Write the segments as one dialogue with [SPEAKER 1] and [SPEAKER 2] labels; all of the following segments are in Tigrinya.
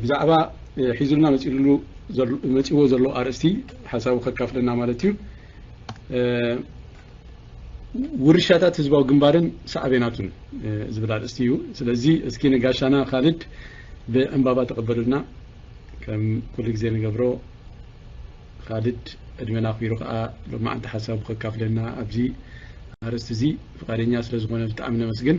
[SPEAKER 1] ብዛዕባ ሒዙልና መፂኡሉ መፂዎ ዘሎ ኣርእስቲ ሓሳቡ ከካፍለና ማለት እዩ ውርሻታት ህዝባዊ ግንባርን ሳዕቤናቱን ዝብል ኣርእስቲ እዩ ስለዚ እስኪ ንጋሻና ካልድ ብዕንባባ ተቐበሉልና ከም ኩሉ ግዜ ንገብሮ ካልድ ዕድመና ኣኽቢሩ ከዓ ሎማዓንቲ ሓሳቡ ከካፍለና ኣብዚ ኣርእስቲ እዚ ፍቃደኛ ስለ ዝኾነ ብጣዕሚ ነመስግን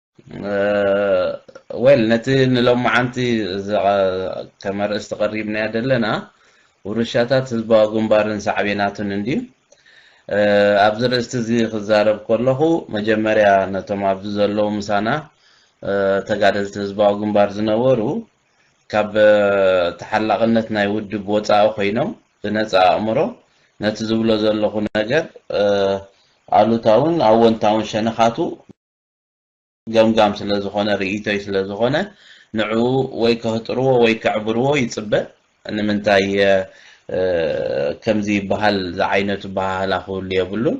[SPEAKER 2] ዌል ነቲ ንሎማዓንቲ ከም ኣርእስቲ ቀሪብናዮ ዘለና ውርሻታት ህዝባዊ ግንባርን ሳዕቤናቱን እንድዩ ኣብዚ ርእስቲ እዚ ክዛረብ ከለኹ መጀመርያ ነቶም ኣብዚ ዘለዉ ምሳና ተጋደልቲ ህዝባዊ ግንባር ዝነበሩ ካብ ተሓላቕነት ናይ ውድብ ወፃኢ ኮይኖም ብነፃ ኣእምሮ ነቲ ዝብሎ ዘለኹ ነገር ኣሉታውን ኣወንታውን ሸነኻቱ ገምጋም ስለ ዝኾነ ርእይቶይ ስለ ዝኾነ ንዕኡ ወይ ከህጥርዎ ወይ ከዕብርዎ ይጽበ ንምንታይ ከምዚ ይበሃል ዝዓይነቱ በሃህላ ክህሉ የብሉን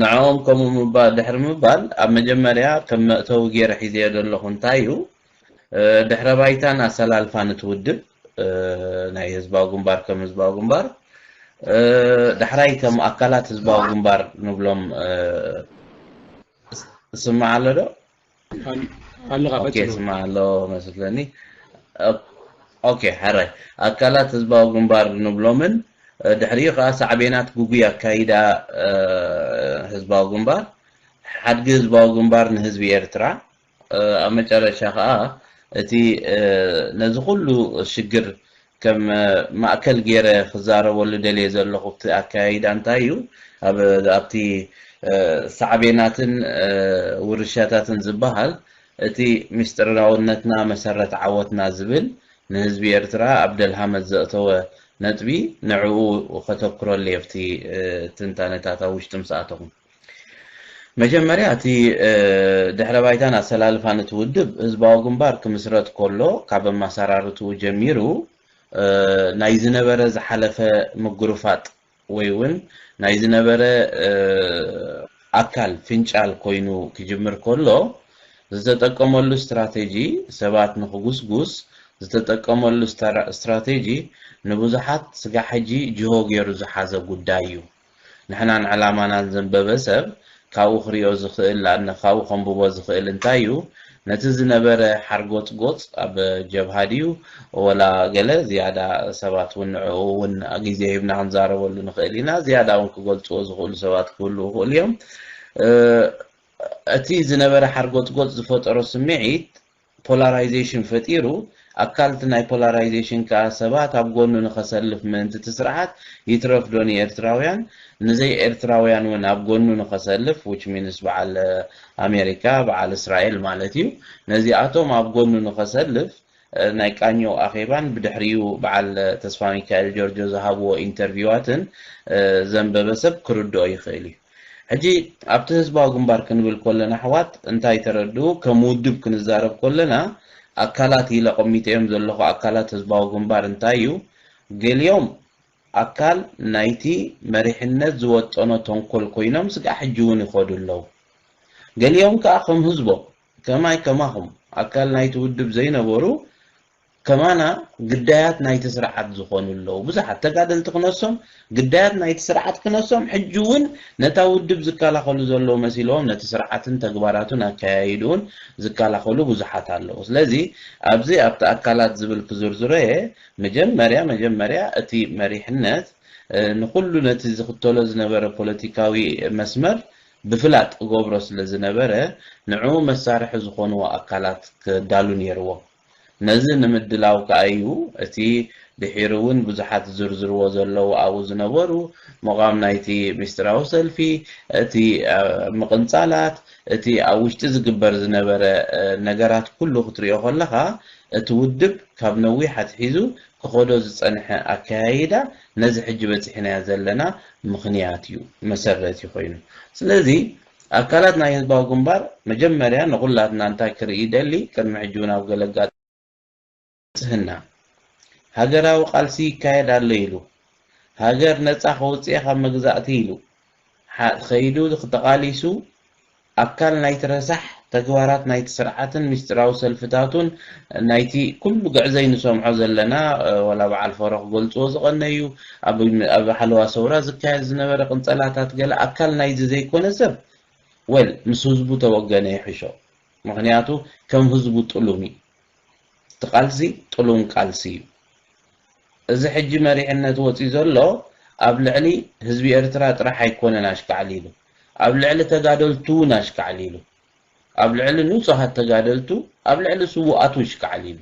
[SPEAKER 2] ንዕኦም ከምኡ ድሕሪ ምባል ኣብ መጀመርያ ከም መእተዊ ገይረ ሒዘዮ ዘለኹ እንታይ እዩ ድሕረ ባይታን ኣሰላልፋን እቲ ውድብ ናይ ህዝባዊ ግንባር ከም ህዝባዊ ግንባር ዳሕራይ ከም ኣካላት ህዝባዊ ግንባር ንብሎም ስማዕ ኣሎ ዶ ኦኬ ስማዕ ኣሎ መስለኒ ኦኬ ሕራይ ኣካላት ህዝባዊ ግንባር ንብሎምን ድሕሪኡ ከዓ ሳዕቤናት ጉጉይ ኣካይዳ ህዝባዊ ግንባር ሓድጊ ህዝባዊ ግንባር ንህዝቢ ኤርትራ ኣብ መጨረሻ ከኣ እቲ ነዚ ኩሉ ሽግር ከም ማእከል ጌረ ክዛረበሉ ደልየ ዘለኹ እቲ ኣከያይዳ እንታይ እዩ ኣብ ኣብቲ ሳዕቤናትን ውርሻታትን ዝብሃል እቲ ምስጢርራውነትና መሰረት ዓወትና ዝብል ንህዝቢ ኤርትራ ኣብ ደልሃመት ዘእተወ ነጥቢ ንዕኡ ከተኩረሉ የፍቲ ትንታነታት ኣብ ውሽጢ ምስ ኣተኹም። መጀመርያ እቲ ድሕረ ባይታን ኣሰላልፋን እቲ ውድብ ህዝባዊ ግንባር ክምስረት ከሎ ካብ ኣመሰራርትኡ ጀሚሩ ናይ ዝነበረ ዝሓለፈ ምጉርፋጥ ወይ እውን ናይ ዝነበረ ኣካል ፍንጫል ኮይኑ ክጅምር ከሎ ዝተጠቀመሉ ስትራቴጂ ሰባት ንክጉስጉስ ዝተጠቀመሉ ስትራቴጂ ንብዙሓት ስጋብ ሕጂ ጅሆ ገይሩ ዝሓዘ ጉዳይ እዩ። ንሕናን ዕላማናን ዘንበበ ሰብ ካብኡ ክሪኦ ዝኽእል ንኣን ካብኡ ከንብቦ ዝኽእል እንታይ እዩ ነቲ ዝነበረ ሓርጎጽጎጽ ኣብ ጀብሃ ድዩ ወላ ገለ ዝያዳ ሰባት ውን ንዕኡ ውን ግዜ ሂብና ክንዛረበሉ ንኽእል ኢና ዝያዳ ውን ክገልጽዎ ዝኽእሉ ሰባት ክህልዉ ይኽእሉ እዮም እቲ ዝነበረ ሓርጎጽጎጽ ዝፈጠሮ ስምዒት ፖላራይዜሽን ፈጢሩ፣ ኣካል'ቲ ናይ ፖላራይዜሽን ከኣ ሰባት ኣብ ጎኑ ንኸሰልፍ ምእንቲ'ቲ ስርዓት ይትረፍዶ ንኤርትራውያን ንዘይ ኤርትራውያን'ውን ኣብ ጎኑ ንኸሰልፍ which means በዓል ኣሜሪካ በዓል እስራኤል ማለት'ዩ ነዚኣቶም ኣብ ጎኑ ንኸሰልፍ ናይ ቃኘው ኣኼባን ብድሕሪኡ በዓል ተስፋሚካኤል ጆርጆ ዝሃብዎ ኢንተርቪዋትን ዘንበበ ሰብ ክርድኦ ይኽእል'ዩ። ሕጂ ኣብቲ ህዝባዊ ግንባር ክንብል ኮለና ኣሕዋት እንታይ ተረድኡ ከም ውድብ ክንዛረብ ኮለና ኣካላት ኢለ ኣቐሚጠዮም ዘለኹ ኣካላት ህዝባዊ ግንባር እንታይ እዩ ገሊኦም ኣካል ናይቲ መሪሕነት ዝወጠኖ ተንኮል ኮይኖም ስጋዕ ሕጂ ውን ይኸዱ ኣለዉ ገሊኦም ከኣ ከም ህዝቦም ከማይ ከማኹም ኣካል ናይቲ ውድብ ዘይነበሩ ከማና ግዳያት ናይቲ ስርዓት ዝኾኑ ኣለዉ። ብዙሓት ተጋደልቲ ክነሶም ግዳያት ናይቲ ስርዓት ክነሶም ሕጂ እውን ነታ ውድብ ዝከላኸሉ ዘለዉ መሲልዎም ነቲ ስርዓትን ተግባራቱን ኣከያይድኡን ዝከላኸሉ ብዙሓት ኣለዉ። ስለዚ ኣብዚ ኣብቲ ኣካላት ዝብል ክዝርዝሮ እየ። መጀመርያ መጀመርያ እቲ መሪሕነት ንኹሉ ነቲ ዝኽተሎ ዝነበረ ፖለቲካዊ መስመር ብፍላጥ እገብሮ ስለ ዝነበረ ንዕኡ መሳርሒ ዝኾንዎ ኣካላት ከዳሉ ነይርዎ። ነዚ ንምድላው ከኣ'ዩ እቲ ድሒሩ'ውን ብዙሓት ዝዝርዝርዎ ዘለዉ ኣብኡ ዝነበሩ ምቛም ናይቲ ምስጢራዊ ሰልፊ፣ እቲ ምቕንጻላት፣ እቲ ኣብ ውሽጢ ዝግበር ዝነበረ ነገራት ኩሉ ክትሪኦ ከለኻ እቲ ውድብ ካብ ነዊሕ ኣትሒዙ ክኸዶ ዝጸንሐ ኣከያይዳ ነዚ ሕጂ በጺሕናዮ ዘለና ምኽንያት'ዩ፣ መሰረት'ዩ ኮይኑ። ስለዚ ኣካላት ናይ ህዝባዊ ግንባር መጀመርያ ንኹላትና እንታይ ክርኢ ይደሊ ቅድሚ ሕጂ ውን ኣብ ገለ ኣጋጣሚ ንጽህና ሃገራዊ ቃልሲ ይካየድ ኣሎ ኢሉ ሃገር ነጻ ከውጽኤ ካብ መግዛእቲ ኢሉ ኸይዱ ተቓሊሱ ኣካል ናይቲ ረሳሕ ተግባራት ናይቲ ስርዓትን ምስጢራዊ ሰልፍታቱን ናይቲ ኩሉ ግዕዘይ ንሰምዖ ዘለና ዋላ በዓል ፈሮ ክገልጽዎ ዝቐነዩ ኣብ ሓለዋ ሰውራ ዝካየድ ዝነበረ ቅንጸላታት ገለ ኣካል ናይዚ ዘይኮነ ሰብ well ምስ ህዝቡ ተወገነ ይሕሾ ምኽንያቱ ከም ህዝቡ ጥሉም እዩ እቲ ቃልሲ ጥሉም ቃልሲ እዩ እዚ ሕጂ መሪሕነት ወጽዩ ዘሎ ኣብ ልዕሊ ህዝቢ ኤርትራ ጥራሕ ኣይኮነን ኣሽካዕሊሉ ኣብ ልዕሊ ተጋደልቱ ውን ኣሽካዕሊሉ ኣብ ልዕሊ ንጹሃት ተጋደልቱ ኣብ ልዕሊ ስውኣቱ እሽካዕሊሉ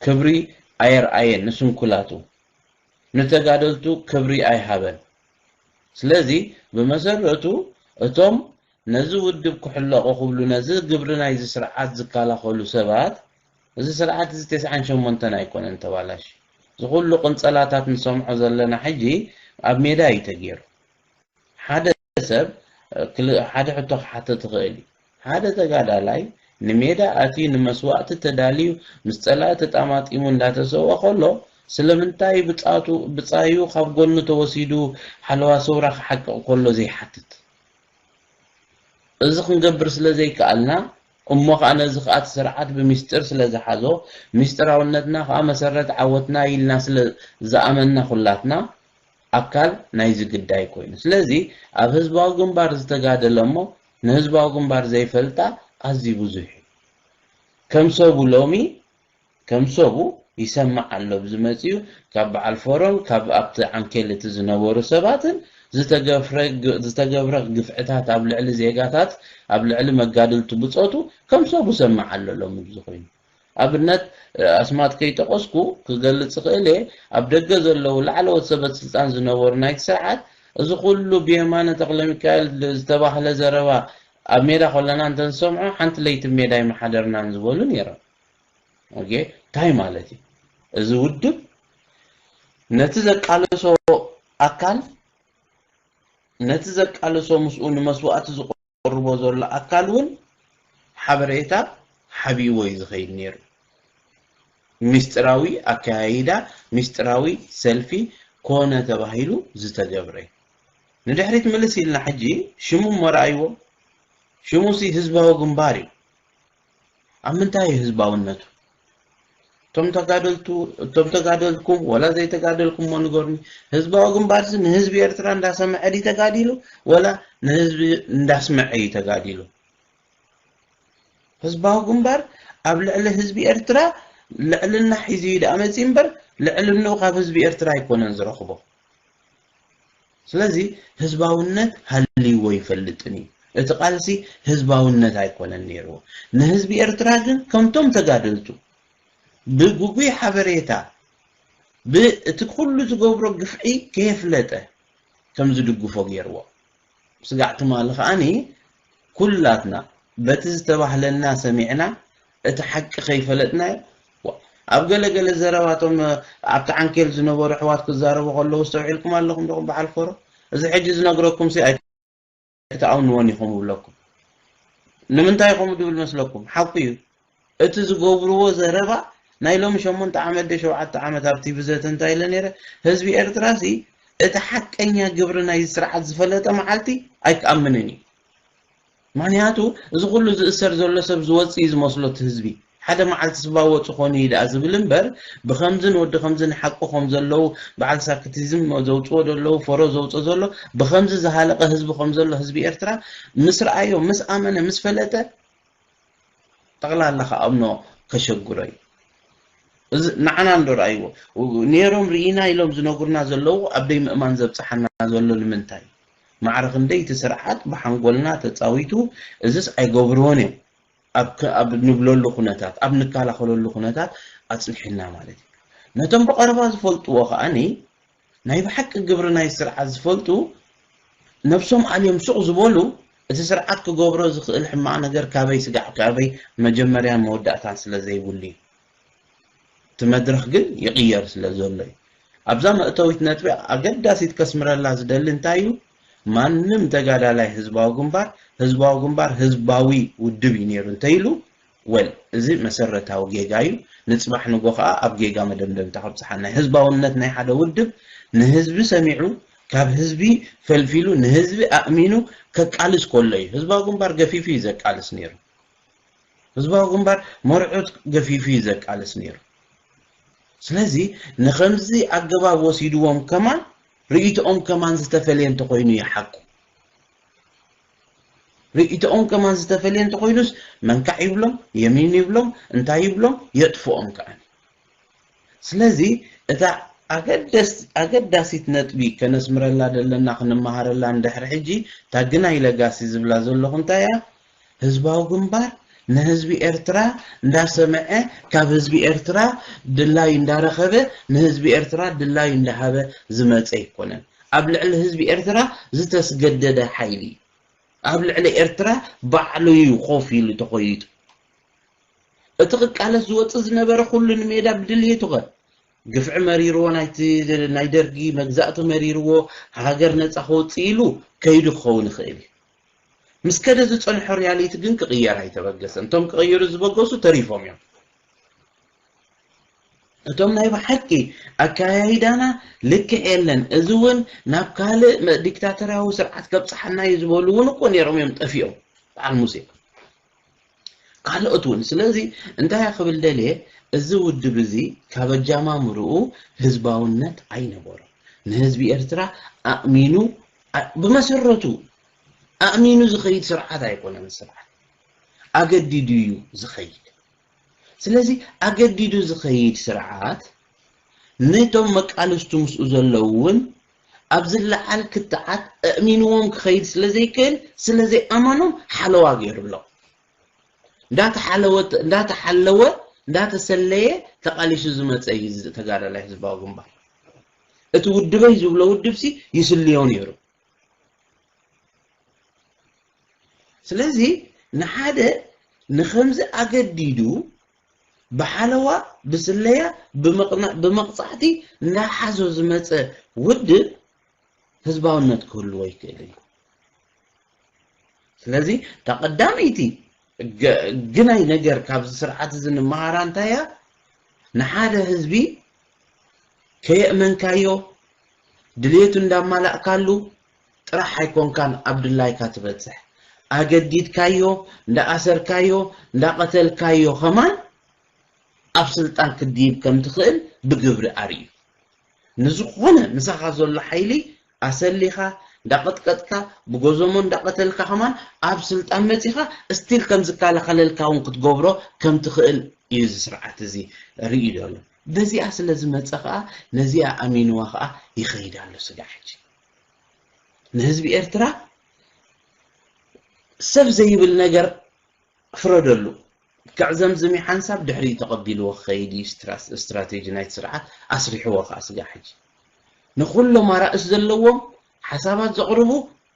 [SPEAKER 2] ክብሪ ኣየርኣየን ንስንኩላቱ ንተጋደልቱ ክብሪ ኣይሃበን ስለዚ ብመሰረቱ እቶም ነዚ ውድብ ክሕለቑ ክብሉ ነዚ ግብሪ ናይዚ ስርዓት ዝካላኸሉ ሰባት እዚ ስርዓት እዚ ተስዓን ሸሞንተን ኣይኮነን ተባላሽዩ እዚ ኩሉ ቅንጸላታት ንሰምዖ ዘለና ሕጂ ኣብ ሜዳ እዩ ተጌሩ ሓደ ሰብ ሓደ ሕቶ ክሓትት ይኽእል እዩ ሓደ ተጋዳላይ ንሜዳ ኣትዩ ንመስዋእቲ ተዳልዩ ምስ ጸላኢ ተጣማጢሙ እንዳተሰውኣ ከሎ ስለምንታይ ብጻቱ ብጻዩ ካብ ጎኑ ተወሲዱ ሓለዋ ሰውራ ክሓቅቕ ከሎ ዘይሓትት? እዚ ክንገብር ስለ ዘይከኣልና እሞ ከኣ ነዚ ከኣ እቲ ስርዓት ብሚስጢር ስለ ዝሓዞ ሚስጢራውነትና ከኣ መሰረት ዓወትና ኢልና ስለ ዝኣመንና ኩላትና ኣካል ናይዚ ግዳይ ኮይኑ ስለዚ ኣብ ህዝባዊ ግንባር ዝተጋደለ እሞ ንህዝባዊ ግንባር ዘይፈልጣ ኣዝዩ ብዙሕ እዩ። ከም ሰቡ ሎሚ ከም ሰቡ ይሰማዕ ኣሎ ብ ዝመጽኡ ካብ በዓል ፎረም ካብ ኣብቲ ዓንኬል እቲ ዝነበሩ ሰባትን ዝተገፍረ ዝተገብረ ግፍዕታት ኣብ ልዕሊ ዜጋታት ኣብ ልዕሊ መጋድልቲ ብጾቱ ከም ሰቡ ሰማዕ ኣሎ ሎሚ ብዝኮይኑ ኣብነት ኣስማት ከይጠቐስኩ ክገልጽ እኽእል እየ፣ ኣብ ደገ ዘለዉ ላዕለዎት ሰበስልጣን ዝነበሩ ናይቲ ስርዓት፣ እዚ ኩሉ ብየማነ ተኽለሚካኤል ዝተባህለ ዘረባ ኣብ ሜዳ ከለና እንተንሰምዖ ሓንቲ ለይቲ ብ ሜዳ ኣይምሓደርናን ዝበሉ ነይሮም። ኦኬ ታይ ማለት እዩ እዚ ውድብ ነቲ ዘቃለሶ ኣካል ነቲ ዘቃለሶ ምስኡ ንመስዋእቲ ዘቕርቦ ዘሎ ኣካል እውን ሓበሬታ ሓቢእዎ እዩ ዝኸይድ ነይሩ። ሚስጢራዊ ኣከያይዳ ሚስጢራዊ ሰልፊ ኮነ ተባሂሉ ዝተገብረ እዩ። ንድሕሪት ምልስ ኢልና ሕጂ ሽሙ እሞ ርኣይዎ። ሽሙሲ ህዝባዊ ግንባር እዩ። ኣብ ምንታይ እዩ ህዝባውነቱ? እቶም ተጋደልቱ እቶም ተጋደልኩም ወላ ዘይተጋደልኩሞ ንገሩኒ። ህዝባዊ ግንባርሲ ንህዝቢ ኤርትራ እንዳሰምዐ ድዩ ተጋዲሉ ወላ ንህዝቢ እንዳስመዐ እዩ ተጋዲሉ? ህዝባዊ ግንባር ኣብ ልዕሊ ህዝቢ ኤርትራ ልዕልና ሒዙ እዩ ደኣ መጺኡ እምበር ልዕልንኡ ካብ ህዝቢ ኤርትራ ኣይኮነን ዝረኽቦ። ስለዚ ህዝባውነት ሃልይዎ ኣይፈልጥን እዩ። እቲ ቃልሲ ህዝባውነት ኣይኮነን ነይሩ። ንህዝቢ ኤርትራ ግን ከምቶም ተጋደልቱ ብግጉይ ሓበሬታ ብእቲ ኩሉ ዝገብሮ ግፍዒ ከየፍለጠ ከም ዝድግፎ ገይርዎ። ስጋዕ ትማሊ ከኣ ኩላትና በቲ ዝተባህለና ሰሚዕና እቲ ሓቂ ከይፈለጥናዮ ዋእ ኣብ ገለ ገለ ዘረባ እቶም ኣብቲ ዓንኬል ዝነበሩ ኣሕዋት ክዛረቡ ከለዉ ኣስተውዒልኩም ኣለኹም ዲኹም በዓል ፎሮ እዚ ሕጂ ዝነግረኩምሲ ኣይ ኣይትኣምንዎን ኢኹም እብለኩም ንምንታይ ከምኡ ድብል መስለኩም ሓቁ እዩ እቲ ዝገብርዎ ዘረባ ናይ ሎሚ ሸሞንተ ዓመት ድዩ ሸውዓተ ዓመት ኣብ ቲቪ ዘተ እንታይ ኢለ ነይረ ህዝቢ ኤርትራሲ እቲ ሓቀኛ ግብሪ ናይዚ ስርዓት ዝፈለጠ መዓልቲ ኣይክኣምንን እዩ ምክንያቱ እዚ ኩሉ ዝእሰር ዘሎ ሰብ ዝወጽእ እዩ ዝመስሎ እቲ ህዝቢ ሓደ መዓልቲ ስባ ወጹ ኮኑ እዩ ደኣ ዝብል እምበር ብከምዝን ወዲ ከምዝን ሓቁ ከም ዘለዉ በዓል ሳክቲዝም ዘውጽዎ ዘለዉ ፈሮ ዘውጽኦ ዘሎ ብከምዚ ዝሃለቀ ህዝቢ ከም ዘሎ ህዝቢ ኤርትራ ምስ ረኣዮ ምስ ኣመነ ምስ ፈለጠ ጠቅላላ ክኣምኖ ከሸግሮ እዩ እዚ ንዓና እንዶ ርኣይዎ ኔሮም ርኢና ኢሎም ዝነግሩና ዘለዉ ኣብ ደይምእማን ዘብጽሓና ዘሎ ንምንታይ ማዕረ ክንደይ እቲ ስርዓት ብሓንጎልና ተጻዊቱ እዝስ ኣይገብርዎን እዮም ኣብ ኣብ ንብለሉ ኩነታት ኣብ ንከላኸለሉ ኩነታት ኣጽኒሑና ማለት እዩ ነቶም ብቐረባ ዝፈልጥዎ ከኣ ናይ ብሓቂ ግብሪ ናይ ስርዓት ዝፈልጡ ነብሶም ኣልዮም ሱቅ ዝበሉ እቲ ስርዓት ክገብሮ ዝክእል ሕማቅ ነገር ካበይ ስጋዕ ካበይ መጀመርያን መወዳእታን ስለ ዘይብሉ እዩ እቲ መድረክ ግን ይቅየር ስለ ዘሎ እዩ ኣብዛ መእተዊት ነጥቢ ኣገዳሲት ከስምረላ ዝደሊ እንታይ እዩ ማንም ተጋዳላይ ህዝባዊ ግንባር ህዝባዊ ግንባር ህዝባዊ ውድብ እዩ ነይሩ እንተይሉ ወል እዚ መሰረታዊ ጌጋ እዩ ንጽባሕ ንጎ ከኣ ኣብ ጌጋ መደምደምታ ከብጽሓና እዩ ህዝባውነት ናይ ሓደ ውድብ ንህዝቢ ሰሚዑ ካብ ህዝቢ ፈልፊሉ ንህዝቢ ኣእሚኑ ከቃልስ ኮሎ እዩ ህዝባዊ ግንባር ገፊፉ እዩ ዘቃልስ ነይሩ ህዝባዊ ግንባር መርዑት ገፊፉ እዩ ዘቃልስ ነይሩ ስለዚ ንከምዚ ኣገባብ ወሲድዎም ከማን ርእይቶኦም ከማን ዝተፈልየ እንተኮይኑ እዩ ሓቁ ርእይቶኦም ከማን ዝተፈልየ እንተኾይኑስ መንካዕ ይብሎም የሚን ይብሎም እንታይ ይብሎም የጥፍኦም ከኣኒ። ስለዚ እታ ኣገዳሲት ነጥቢ ከነስምረላ ዘለና ክንመሃረላ ንድሕሪ ሕጂ እታ ግናይ ለጋሲ ዝብላ ዘለኹ እንታይ እያ ህዝባዊ ግንባር ንህዝቢ ኤርትራ እንዳሰመዐ ካብ ህዝቢ ኤርትራ ድላይ እንዳረኸበ ንህዝቢ ኤርትራ ድላይ እንዳሃበ ዝመጸ ኣይኮነን። ኣብ ልዕሊ ህዝቢ ኤርትራ ዝተስገደደ ሓይሊ እዩ። ኣብ ልዕሊ ኤርትራ ባዕሉ እዩ ኮፍ ኢሉ ተኾይጡ። እቲ ክቃለስ ዝወጽእ ዝነበረ ኩሉ ንሜዳ ብድልየቱ ከ ግፍዒ መሪርዎ ናይቲ ናይ ደርጊ መግዛእቲ መሪርዎ ሃገር ነጻ ከውጽእ ኢሉ ከይዱ ክኸውን ይኽእል እዩ። ምስ ከደ ዝጸንሖ ሪያሊቲ ግን ክቕየር ኣይተበገሰን። እቶም ክቕይሩ ዝበገሱ ተሪፎም እዮም። እቶም ናይ ብሓቂ ኣከያይዳና ልክዕ የለን እዚ ውን ናብ ካልእ ዲክታተርያዊ ስርዓት ከብጽሓና እዩ ዝበሉ ውን እኮ ኔሮም እዮም ጠፊኦም በዓል ሙሴ ካልኦት ውን ስለዚ እንታይ እየ ክብል ደልየ እዚ ውድብ እዚ ካብ ኣጃማምርኡ ህዝባውነት ኣይነበሮ ንህዝቢ ኤርትራ ኣእሚኑ ብመሰረቱ ኣእሚኑ ዝኸይድ ስርዓት ኣይኮነን ስርዓት ኣገዲዱ እዩ ዝኸይድ ስለዚ ኣገዲዱ ዝኸይድ ስርዓት ነቶም መቃልስቱ ምስኡ ዘለዉ እውን ኣብ ዝለዓል ክትዓት ኣእሚንዎም ክኸይድ ስለ ዘይክእል ስለ ዘይኣመኖም ሓለዋ ገይሩሎም። እንዳተሓለወ እንዳተሓለወ እንዳተሰለየ ተቓሊሱ ዝመጸ እዩ እዚ ተጋዳላይ ህዝባዊ ግንባር። እቲ ውድበይ ዝብሎ ውድብሲ ይስልዮ ነይሩ። ስለዚ ንሓደ ንኸምዚ ኣገዲዱ ብሓለዋ፣ ብስለያ፣ ብምቕናእ፣ ብመቕጻዕቲ እናሓዞ ዝመጸ ውድብ ህዝባውነት ክህልዎ ኣይክእልን እዩ። ስለዚ እታ ቀዳመይቲ ገ- ግናይ ነገር ካብዚ ስርዓት እዚ ንመሃራ እንታይ እያ? ንሓደ ህዝቢ ከየእመንካዮ ድሌቱ እንዳማላእካሉ ጥራሕ ኣይኮንካን ኣብ ድላይካ ትበጽሕ ኣገዲድካዮ እንዳ ኣሰርካዮ እንዳ ቀተልካዮ ከማን ኣብ ስልጣን ክትድይብ ከም ትኽእል ብግብሪ ኣርእዩ ንዝኾነ ምሳኻ ዘሎ ሓይሊ ኣሰሊኻ እንዳ ቀጥቀጥካ ብጎዞሞ እንዳ ቀተልካ ከማን ኣብ ስልጣን መጺኻ እስቲል ከም ዝካላኸለልካ ውን ክትገብሮ ከም ትኽእል እዩ እዚ ስርዓት እዚ ርእዩ ዘሎ በዚኣ ስለ ዝመጸ ከኣ ነዚኣ ኣሚንዋ ከኣ ይኸይድ ኣሎ ስጋዕ ሕጂ ንህዝቢ ኤርትራ ሰብ ዘይብል ነገር ፍረደሉ። ልክዕ ዘምዝሚ ሓንሳብ ድሕሪኡ ተቐቢልዎ ክኸይድ እዩ ስትራቴጂ ናይቲ ስርዓት፣ ኣስሪሕዎ ከኣ ስጋዕ ሕጂ። ንኹሎም ኣራእስ ዘለዎም ሓሳባት ዘቕርቡ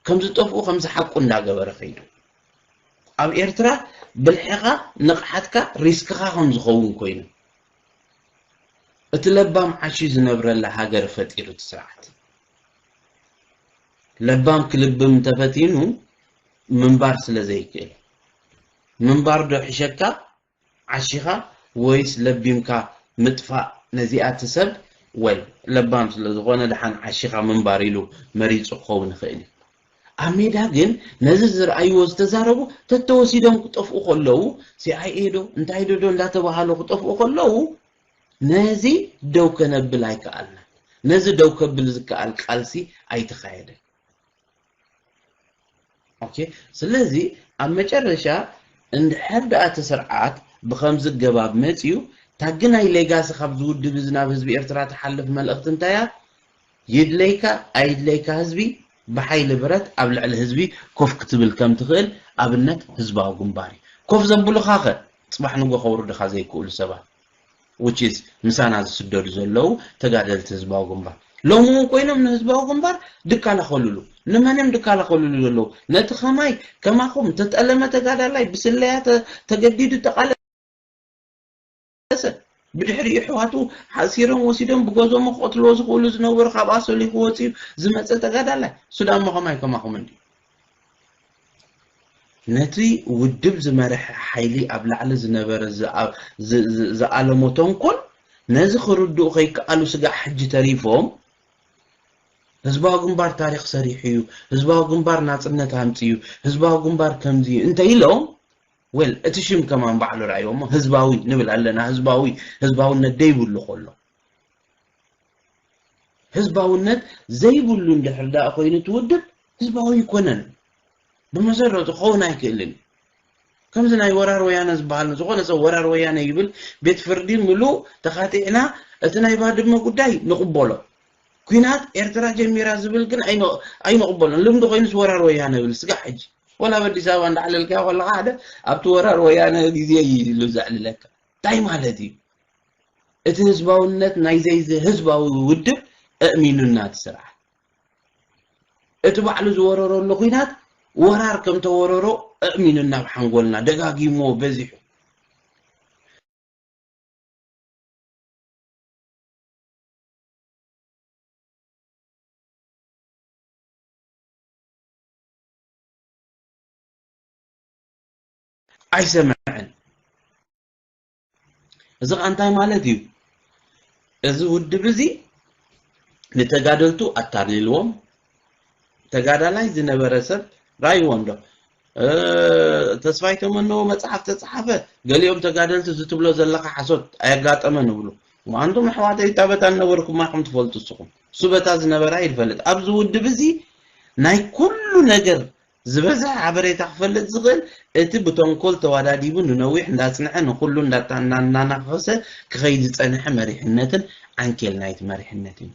[SPEAKER 2] ከም ዝጠፍኡ ከም ዝሓቁ እንዳገበረ ከይዱ። ኣብ ኤርትራ ብልሕኻ ንቕሓትካ ሪስክኻ ከም ዝኸውን ኮይኑ። እቲ ለባም ዓሽዩ ዝነብረላ ሃገር ፈጢሩ እቲ ስርዓት። ለባም ክልብም እንተፈቲኑ ምንባር ስለ ዘይክእል ምንባር ዶ ሕሸካ ዓሺኻ ወይስ ለቢምካ ምጥፋእ ነዚኣ እቲ ሰብ ወይ ለባም ስለ ዝኾነ ደሓን ዓሺኻ ምንባር ኢሉ መሪፁ ክኸውን ይኽእል እዩ ኣብ ሜዳ ግን ነዚ ዝረኣይዎ ዝተዛረቡ ተተወሲዶም ክጠፍኡ ከለዉ ሲኣይኤ ዶ እንታይ ዶ ዶ እንዳተባሃሉ ክጠፍኡ ከለዉ ነዚ ደው ከነብል ኣይከኣልናን። ነዚ ደው ከብል ዝከኣል ቃልሲ ኣይተኻየደን። ኦኬ ስለዚ ኣብ መጨረሻ እንድሕር ደኣ እቲ ስርዓት ብኸምዚ ገባብ መጺኡ ታግናይ ሌጋሲ ካብዚ ውድብ እዚ ናብ ህዝቢ ኤርትራ ትሓልፍ መልእኽቲ እንታይ እያ? ይድለይካ ኣይድለይካ ህዝቢ ብሓይሊ ብረት ኣብ ልዕሊ ህዝቢ ኮፍ ክትብል ከም ትኽእል ኣብነት ህዝባዊ ግንባር እዩ። ኮፍ ዘብሉኻ ከ ጽባሕ ንጎ ከውርድኻ ዘይክእሉ ሰባት which is ምሳና ዝስደዱ ዘለዉ ተጋደልቲ ህዝባዊ ግንባር ሎሚ እውን ኮይኖም ንህዝባዊ ግንባር ድካላኸሉሉ ንመን እዮም ድካላኸሉሉ ዘለዉ ነቲ ከማይ ከማኹም ተጠለመ ተጋዳላይ ብስለያ ተገዲዱ ተቃለ ተመለሰ። ብድሕሪኡ ኣሕዋቱ ሓሲሮም ወሲዶም ብጎዞሞ ክቐትልዎ ዝኽእሉ ዝነበሩ ካብ ኣሶሊኹ ወጺኡ ዝመጸ ተጋዳላይ። ሱዳሞ ከማይ ከማኹም እንድዩ። ነቲ ውድብ ዝመርሐ ሓይሊ ኣብ ላዕሊ ዝነበረ ዝኣለሞ ተንኮል ነዚ ክርድኡ ከይከኣሉ ስጋዕ ሕጂ ተሪፎም ህዝባዊ ግንባር ታሪኽ ሰሪሑ እዩ፣ ህዝባዊ ግንባር ናጽነት ኣምጺኡ፣ ህዝባዊ ግንባር ከምዚ እዩ እንተ ኢሎም ዌል እቲ ሽም ከማን ባዕሉ ርኣይዎ እሞ ህዝባዊ ንብል ኣለና ህዝባዊ ህዝባውነት ደይብሉ ኮሎ ህዝባውነት ዘይብሉ እንድሕር ደኣ ኮይኑ እቲ ውድብ ህዝባዊ ኣይኮነን ብመሰረቱ ክኸውን ኣይክእልን እዩ ከምዚ ናይ ወራር ወያነ ዝበሃል ዝኾነ ሰብ ወራር ወያነ ይብል ቤት ፍርዲ ምሉእ ተኻቲዕና እቲ ናይ ባድመ ጉዳይ ንቕበሎ ኩናት ኤርትራ ጀሚራ ዝብል ግን ኣይንቕበሎን ልምዲ ኮይኑስ ወራር ወያነ ብል ስጋዕ ሕጂ ወላ ኣብ ኣዲስ ኣበባ እንዳዕለልካዮ ከለኻ ሓደ ኣብቲ ወራር ወያነ ግዜ እዩ ኢሉ ዘዕልለካ እንታይ ማለት እዩ እቲ ህዝባውነት ናይ ዘይዚ ህዝባዊ ውድብ እእሚኑና እቲ ስርዓት እቲ ባዕሉ ዝወረረሉ ኩናት ወራር ከም ተወረሮ እእሚኑና ኣብ ሓንጎልና ደጋጊምዎ በዚሑ ኣይሰምዕን እዚ ኸዓ እንታይ ማለት እዩ እዚ ውድብ እዚ ንተጋደልቱ ኣታሊልዎም ተጋዳላይ ዝነበረ ሰብ ራይዎ እንዶ ተስፋይ ተመነዎ መጽሓፍ ተጻሓፈ ገሊኦም ተጋደልቲ እዚ ትብሎ ዘለካ ሓሶት ኣየጋጠመን እብሉ እሞ ኣንቱም ኣሕዋተይ እታ በታ ዝነበርኩማ ከም ትፈልጡ እስኹም እሱ በታ ዝነበራ ይፈልጥ ኣብዚ ውድብ እዚ ናይ ኩሉ ነገር ዝበዝሐ ሓበሬታ ክፈልጥ ዝኽእል እቲ ብተንኮል ተዋዳዲቡ ንነዊሕ እንዳጽንሐ ንኹሉ እንዳናናኸሰ ክኸይድ ዝጸንሐ መሪሕነትን ዓንኬል ናይቲ መሪሕነት እዩ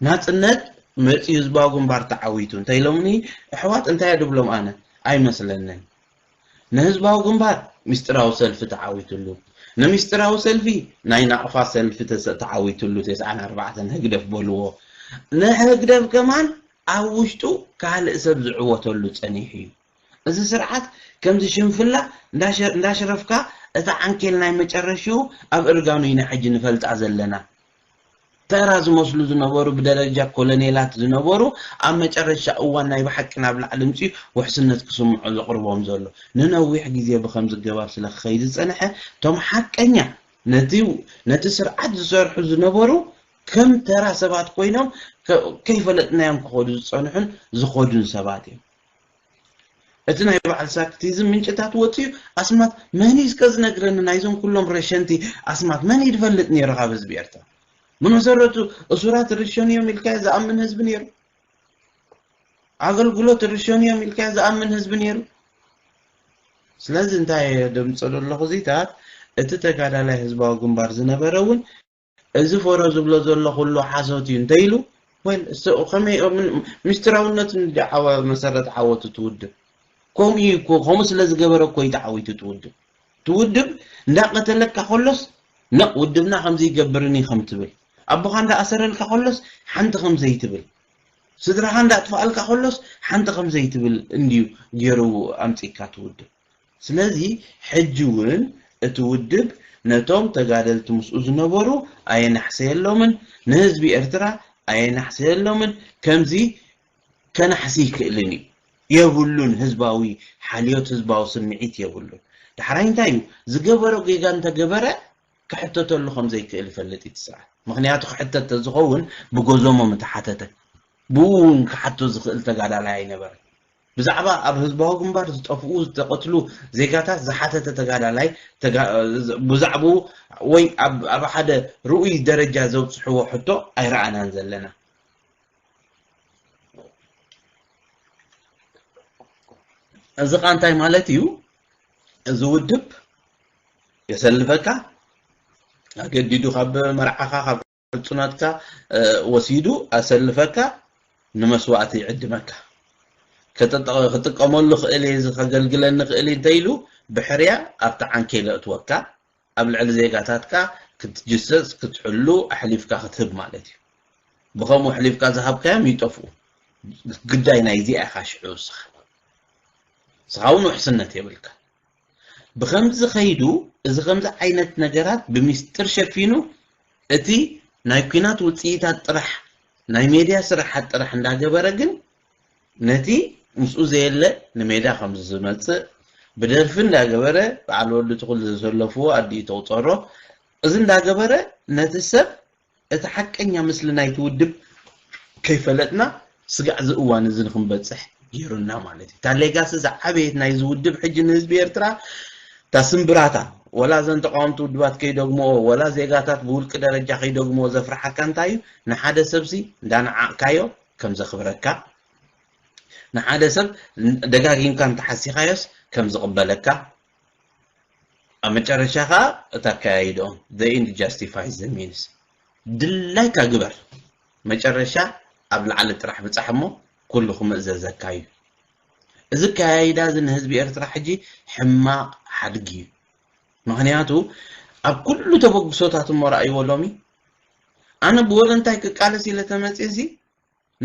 [SPEAKER 2] ናጽነት መጽዩ ህዝባዊ ግንባር ተዓዊቱ እንተ ኢሎምኒ ኣሕዋት እንታይ ድብሎም ኣነ ኣይመስለንን ንህዝባዊ ግንባር ምስጢራዊ ሰልፊ ተዓዊትሉ ንምስጢራዊ ሰልፊ ናይ ናቕፋ ሰልፊ ተዓዊትሉ ተስዓን ኣርባዕተን ህግደፍ በልዎ ንህግደፍ ከማን ኣብ ውሽጡ ካልእ ሰብ ዝዕወተሉ ጸኒሑ እዩ እዚ ስርዓት ከምዚ ሽንፍላ እንዳሽረፍካ እታ ዓንኬል ናይ መጨረሽኡ ኣብ እርጋኑ ኢና ሕጂ ንፈልጣ ዘለና ተራ ዝመስሉ ዝነበሩ ብደረጃ ኮለኔላት ዝነበሩ ኣብ መጨረሻ እዋን ናይ ብሓቂ ናብ ላዕሊ ምጺኡ ውሕስነት ክስምዖ ዘቕርቦም ዘሎ ንነዊሕ ግዜ ብኸምዚ ገባብ ስለ ክኸይድ ዝጸንሐ እቶም ሓቀኛ ነቲ ነቲ ስርዓት ዝሰርሑ ዝነበሩ ከም ተራ ሰባት ኮይኖም ከይፈለጥናዮም ክኸዱ ዝጸንሑን ዝኸዱን ሰባት እዮም። እቲ ናይ በዓል ሳክቲዝም ምንጭታት ወጺኡ ኣስማት መን እዩ እስከ ዝነግረኒ ናይዞም ኩሎም ረሸንቲ ኣስማት መን እዩ ድፈልጥ ኔሩ ካብ ህዝቢ ኤርትራ ብመሰረቱ እሱራት ይርሸኑ እዮም ኢልካዮ ዝኣምን ህዝቢ ኔሩ ኣገልግሎት ይርሸኑ እዮም ኢልካዮ ዝኣምን ህዝቢ ኔሩ ስለዚ እንታይ እየ ደምጸሉ ኣለኹ እዚታት እቲ ተጋዳላይ ህዝባዊ ግንባር ዝነበረ እውን እዚ ፎሮ ዝብሎ ዘሎ ኩሉ ሓሶት እዩ እንተ ኢሉ ወል እሶ ከመይ ኦም ምስጢራውነት እንዲ ዓወ መሰረት ዓወቱ ትውድብ ከምኡ እዩ እኮ ከምኡ ስለ ዝገበረ እኮ እዩ ተዓዊቱ ትውድብ ትውድብ እንዳቀተለካ ከሎስ ነቕ ውድብና ከምዚ ይገብርን እዩ ከም ትብል ኣቦኻ እንዳኣሰረልካ ከሎስ ሓንቲ ከም ዘይትብል ስድራኻ እንዳጥፋኣልካ ከሎስ ሓንቲ ከም ዘይትብል እንድዩ ገይሩ ኣምጺእካ ትውድብ ስለዚ ሕጂ ውን እቲ ውድብ ነቶም ተጋደልቲ ምስኡ ዝነበሩ ኣየናሕሰየሎምን፣ ንህዝቢ ኤርትራ ኣየናሕሰየሎምን፣ ከምዚ ከናሕሲ ኣይክእልን እዩ። የብሉን ህዝባዊ ሓልዮት ህዝባዊ ስምዒት የብሉን። ዳሕራይ እንታይ እዩ ዝገበሮ ጌጋ እንተገበረ ክሕተተሉ ከም ዘይክእል ይፈልጥ እዩ እቲ ስርዓት። ምኽንያቱ ክሕተት ተዝኸውን ብጎዞሞ ምተሓተተ። ብኡ ውን ክሓቶ ዝኽእል ተጋዳላይ ኣይነበረን። ብዛዕባ ኣብ ህዝባዊ ግንባር ዝጠፍኡ፣ ዝተቐትሉ፣ ዜጋታት ዝሓተተ ተጋዳላይ፣ ብዛዕብኡ ወይ ኣብ ኣብ ሓደ ርኡይ ደረጃ ዘብጽሕዎ ሕቶ ኣይረኣናን ዘለና። እዚ ከኣ እንታይ ማለት እዩ? እዚ ውድብ የሰልፈካ፣ ኣገዲዱ ካብ መርዓኻ፣ ካብ ሕጹነትካ ወሲዱ ኣሰልፈካ ንመስዋእቲ ይዕድመካ። ክጥቀመሉ ክእል እየ እዚ ከገልግለኒ ክእል እዩ እንተኢሉ ብሕርያ ኣብቲ ዓንኬል የእትወካ ኣብ ልዕሊ ዜጋታትካ ክትጅሰስ ክትሕሉ ኣሕሊፍካ ክትህብ ማለት እዩ። ብከምኡ ኣሕሊፍካ ዝሃብካዮም ይጠፍኡ። ግዳይ ናይዚኣ ኢኻ ሽዑ ንስኻ። ንስኻ እውን ውሕስነት የብልካን። ብኸምዚ ከይዱ እዚ ከምዚ ዓይነት ነገራት ብሚስጥር ሸፊኑ እቲ ናይ ኩናት ውጽኢታት ጥራሕ ናይ ሜድያ ስራሓት ጥራሕ እንዳገበረ ግን ነቲ ምስኡ ዘየለ ንሜዳ ከምዚ ዝመጽእ ብደርፊ እንዳገበረ በዓል ወዲ ትኹል ዘሰለፍዎ ኣዲኡ ትቑጸሮ እዚ እንዳገበረ ነቲ ሰብ እቲ ሓቀኛ ምስሊ ናይቲ ውድብ ከይፈለጥና ስጋዕ እዚ እዋን እዚ ንክንበጽሕ ገይሩና ማለት እዩ። እታ ሌጋሲ ዝዓበየት ናይዚ ውድብ ሕጂ ንህዝቢ ኤርትራ እታ ስምብራታ ወላ እዘን ተቃወምቲ ውድባት ከይደግምኦ ወላ ዜጋታት ብውልቂ ደረጃ ከይደግምኦ ዘፍርሓካ እንታይ እዩ ንሓደ ሰብሲ እንዳነዓቕካዮ ከም ዘኽብረካ ንሓደ ሰብ ደጋጊምካ እንተሓሲኻዮስ ከም ዝቕበለካ ኣብ መጨረሻ ከኣ እቲ ኣከያይድኦም the end justifies the means ድላይካ ግበር መጨረሻ ኣብ ላዕሊ ጥራሕ ብጻሕ እሞ ኩሉ ክምእዘዘካ እዩ እዚ ኣከያይዳ እዚ ንህዝቢ ኤርትራ ሕጂ ሕማቕ ሓድጊ እዩ ምክንያቱ ኣብ ኩሉ ተበግሶታት እሞ ረኣይዎ ሎሚ ኣነ ብወለንታይ ክቃለስ ኢለ ተመጽየሲ